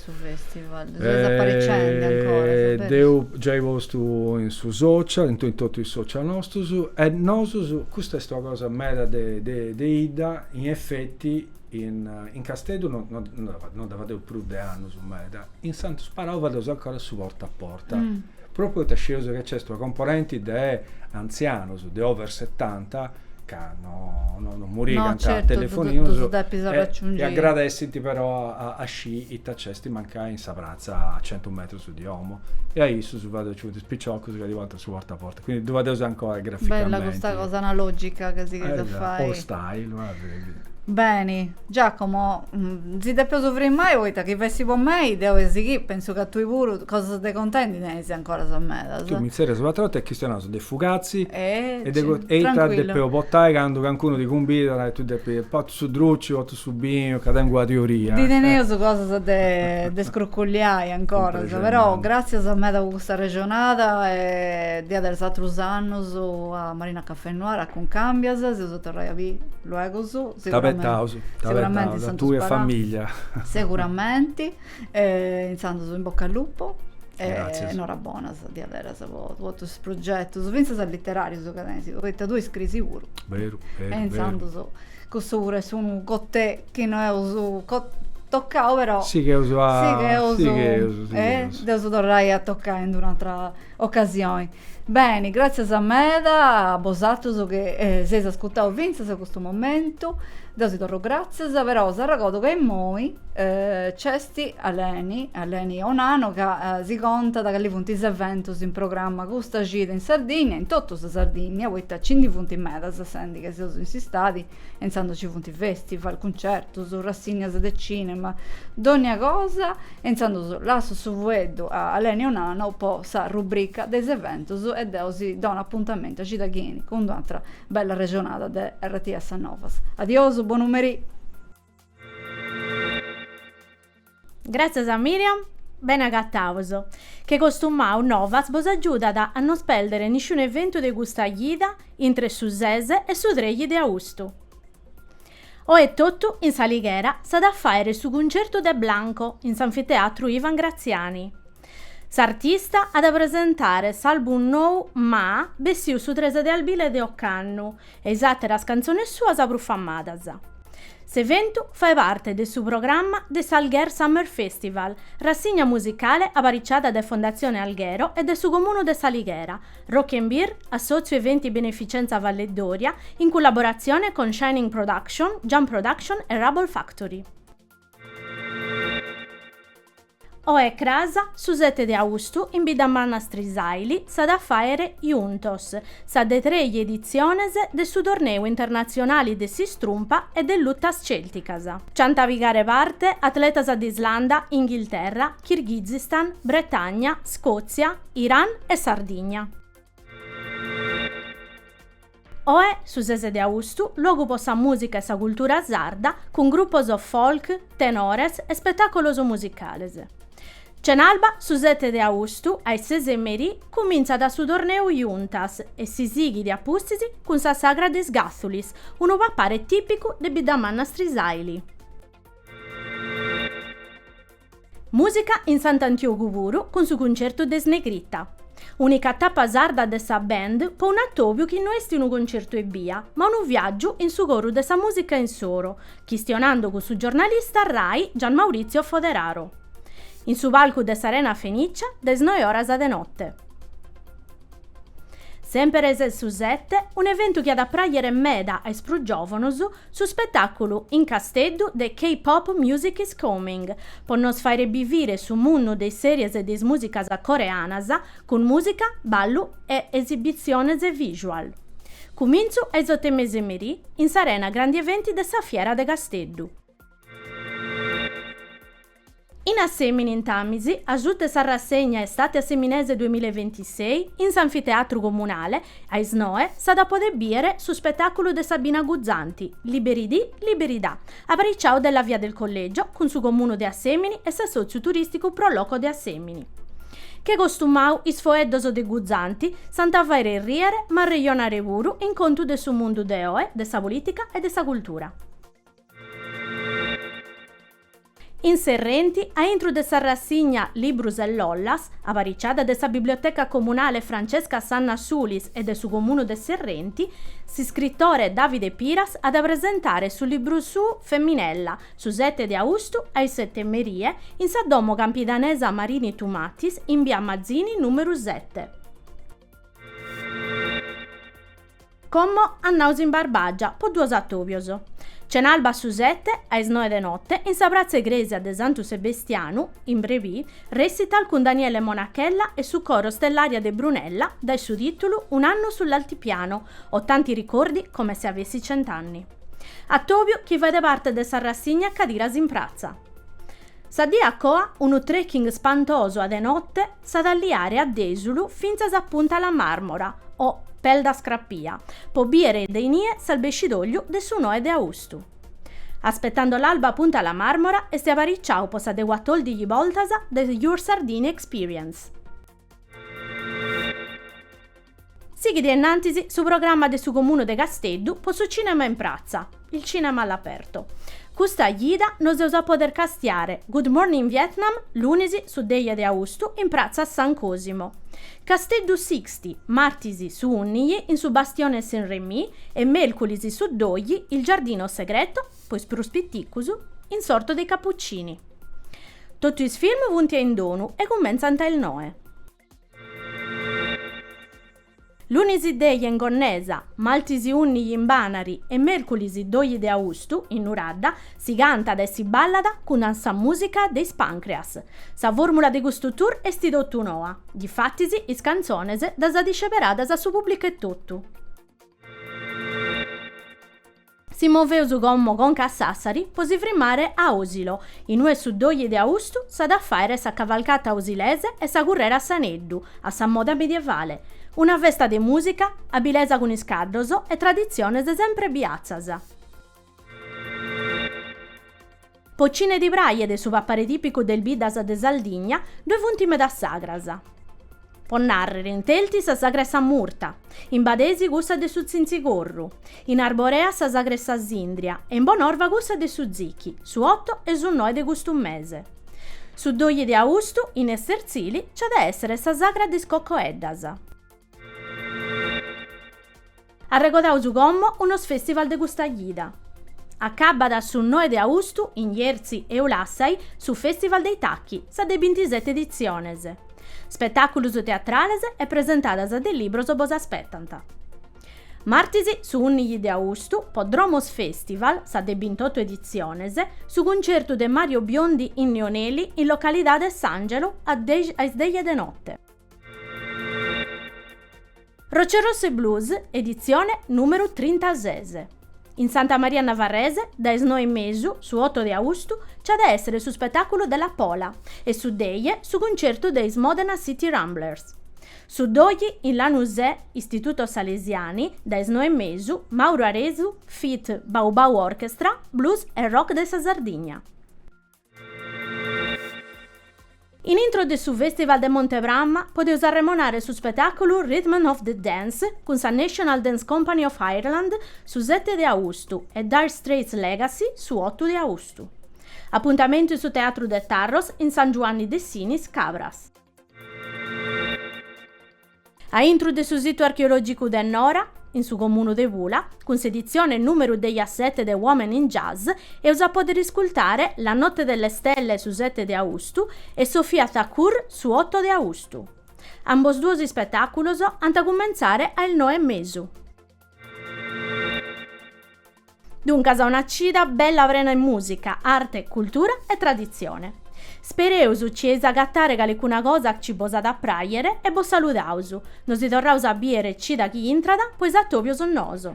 su festival? Ddu ses apariciende ancora, sa beris? Dd'eus giai postu in su social, in totu is social nostus, e nosus, custa est una cosa meda de de 'idda, in effetti in in Casteddu no no no dda fadeus prus de annus meda, in Santu Sparau fadeus ancora su porta a porta Pròpriu poita scieus chi nc'est una componenti de antzianos, de over setanta, ca no no murigant telefoninus e agradessint però a scì ita nc'est mancai in sa pratza a centu metrus de domu e a issus fadeus nci funt is piciocus chi ddi portant su porta a porta, quindi ddu fadeus ancora graficamenti. Bella custa cosa analogica chi sighis a fai. Old style. Beni Giacomo, si depeus frimai poita chi fessit po mei, deu e sighì, pensu ca tui puru, cosas de contai ndi tenis ancoras medas. Tui mi zerrias un'atra 'orta e chistionaus de fugazzi e de ita depeus portai candu cancunu ti cumbidat e tui depi, portu su druci, portu su binu, ca tengu una teoria. Ndi teneus cosas de scruculliai ancoras, però gratzias meda po custa arrexonada e diaderus atrus annus a Marina Cafè Noir, a Cuncambias, s'eus a torrai a biri luegus. T'abetaus, t'abetaus a tui e famiglia. Seguramenti e intzandus in bocca al lupo e norabonas diaderas po totus is progetus, fintzas literarius chi tenis, poita tui scrisi puru. Beru, beru. E intzandus cussu puru est unu cotè chi no eus tocau però. Sigheus a, sigheus, sigheus. Dd'eus a torrai a tocai in d'un'atera ocasioni. Beni, gràtzias meda a bosatrus chi s'eis ascurtau fintzas a custu momentu, deu si torru gràtzias, però s'arregordu ca imoi nc'est Aleni, Aleni Onano, ca si contat cali funt is eventus in programma custa cida in Sardigna, in totu sa Sardigna, poita nci ndi funt medas, sendi ca seus in s'istadi intzandus ci funt festival, cuncertus, rassignas de cinema, dònnia cosa e intzandus lassu su fueddu a Aleni Onano po sa rubrica de is eventus e deu si donu apuntamentu a cida chi enit cun d'una atra bella arrexonada de RTS Novas. Adiosu, bonu merì! Gràtzias a Miriam, bene agatados, che costumau Novas bos agiudat a non si pèrdere nisciunu eventu de custa cida intre su ses e su trexi de austu. Oe totu in S'Alighera s'at a fàere su cuncertu de Blanco in s'Anfiteatru Ivan Graziani. S'artista at a presentare s'album nou Ma bessiu su tres de albile de ocannu e is àteras cantzones suas prus famadas. S'eventu fait parte de su programma de s'Alguer Summer Festival, rassigna musicale apariciada dae Fondatzione Alghero e dae su Comunu de S'Alighera, Rock 'n' Beer, Assòtziu Eventi Beneficenza Valledoria, in cullaboratzione con Shining Production, Jump Production e Roble Factory. Oe e cras, su sete de austu, in Biddamanna Strisàili s'at a fàere Juntos sa de trei editziones de su torneu internatzionali de s'istrumpa e de lutas cèlticas. Nci ant a pigare parte atletas de Islanda, Inghilterra, Kirghizistan, Bretagna, Scòtzia, Iran e Sardigna. Oe, su ses de austu, luogu po sa musica e sa cultura sarda, cun gruppos folk, tenores e spettacolos musicales. Cenalba, su sete de austu, a is ses 'e merì, cumintzat su torneu Juntas e si sighit a pustis cun sa sagra de is Gàthulis, unu papare tìpicu de Biddamanna Strisaili. Mùsica in Sant'Antiogu puru cun su cuncertu de is Negrita. Unica tapa sarda de sa band po un atòbiu chi no est unu concertu ebbia, ma unu viàgiu in su coru de sa mùsica insoro, chistionando cun su giornalista Rai Gian Maurizio Foderaro. In su palcu de s'Arena Fenicia, de is noe oras de note. Semperes su sette, un'eventu chi at a pràghere meda a is prus giòvanos, su spetàculu in Casteddu de K-Pop Music is Coming, po nos fàghere bivire su mundu de is sèries e de is mùsicas coreanas, cun mùsica, ballu e esibitziones visual. Cumintzu a is oto e mesa 'e merì, in s'Arena Grandi Eventi de sa Fiera de Casteddu. In Assèmini intamis, asuta 'e sa rassegna Estate Asseminese duemilla e ventisei, in s'anfiteatru comunale, a is noe, s'at a podè bìere su spetàculu de Sabina Guzzanti, Liberi di, liberi da, apariciau de La Via del Collegio cun su Comunu de Assèmini e s'assòtziu turìsticu Pro Loco de Assèmini. Che costumau is foeddos de Guzzanti s'ant a fàghere rìere ma arrejonare puru in contu de su mundu de oe, de sa polìtica e de sa cultura. In Serrenti a intru de sa rassigna Librus e lollas, apariciada de sa Biblioteca Comunale Francesca Sanna Sulis e de su Comunu de Serrenti, s'iscritore Davide Piras at a presentare su libru suu Femminella, su sete de austu a is sete 'e merie, in sa domo campidanesa Marini Tumatis in bia Mazzini numeru sete. Como annaus in Barbàgia, po duos atòbios. Cenalba su sete, a is noe de note, in sa pratza egrèsia de Santu Sebestianu, in Brebì, recital cun Daniele Monachella e su coro Stellaria de Brunella, dae su tìtulu Un anno sull'altipiano, ho tanti ricordi come se avessi cent'anni. Atòbiu chi faet parte de sa rassigna Cadiras in pratza. Sa die a coa, unu trekking spantosu a de notte, s'at a liare a Dèsulu fintzas a Punta la Marmora, o Peldas Crapias, po bìere de inie s'albescidògliu de su noe de austu. Aspettando l'alba a Punta la Marmora est apariciau po sa de cuatòrdighi boltas de Your Sardinia Experience. Sighit innantis su programma de su Comunu de Casteddu po su cinema in pratza, il cinema all'aperto. Custa jida nos eus a poder castiare Good Morning Vietnam lunis su deghe de austu in pratza San Cosimo. Casteddu Sicsti martis su unnighi in su Bastione Saint Remy e melculis su doghi il Giardino Segreto, po is prus piticus, in s'Orto dei Cappuccini. Totu is film funt indonu e cumentzant a is noe. Lunis deje in Gonnesa, martis unniji in Banari e merculis doji de austu in Nuradda si cantat e si ballat cun sa musica de is Pancreas. Sa formula de custu tour esti totu noa, difatis is cantzones ddas at isceperadas su publicu etotu. Si moveus como conca a Sàssari po si frimmare a Osilo, in ue su doje de austu s'at a fàere sa cavalcata osilese e sa currera a s'aneddu, a sa moda medievale. Una festa de mùsica, abilesa cun is caddos e traditziones semper biatzas. Po cine ddi prajet su papare tìpicu de is biddas de Sardigna, ddoi funt medas sagras. Po nàrrere, in Telti sa sagra 'e sa murta, in Badesi cussa de su tzintzigorru, in Arborea sa sagra 'e sa sìndria e in Bonorva cussa de su zichi, su oto e su noe de custu mese. Su doje de austu, in Estertzili, nce at a èssere sa sagra de is cocoeddas. Arregodaus como unos festival de custa cida. Acabat su noe de austu in Jerzu e Ulassai su Festival dei Tacchi, sa de bintiseti editziones. Spetàculus teatrales e presentadas de libros bos aspetant. Martis su unnighi de austu, po Dromos Festival, sa de bintotu editziones, su cuntzertu de Mario Biondi in Neoneli in localidade S'Angelo a is dexi de note. Rocce Rosse Blues, editzione nùmeru trintases. In Santa Maria Navarrese, dae is noe e mesu, su oto de austu, nch'at a èssere su spetàculu de Lapola e su deghe su cuntzertu de is Modena City Ramblers. Su doghi, in Lanusè, Istituto Salesiani, dae is noe e mesu, Mauro Aresu feat. Bau Bau Orchestra, Blues e Rock de sa Sardigna. In intro de su Festival de Mont'e Prama podeus arremonare su spetàculu Rhythm of the Dance cun sa National Dance Company of Ireland su sete de austu e Dire Straits Legacy su otu de austu. Apuntamentu in su Teatru de Tarros in San Giuanni de Sinis, Cabras. A intru de su situ archeològicu de Nora, in su comunu de Pula, cun s'editzione nùmeru dexiasete de Women in Jazz, eus a pòdere iscultare La notte delle stelle su sete de austu e Sofia Thakur su oto de austu. Ambos duos ispetàculos ant a cumentzare a is noe e mesu. Duncas una cida bella prena 'e mùsica, arte, cultura e traditzione. Spereus ci 'eis agatare calicuna cosa chi bos at a pràghere e bos saludaus. Nos torraus a bìdere cida chi intrat po is atòbios noos.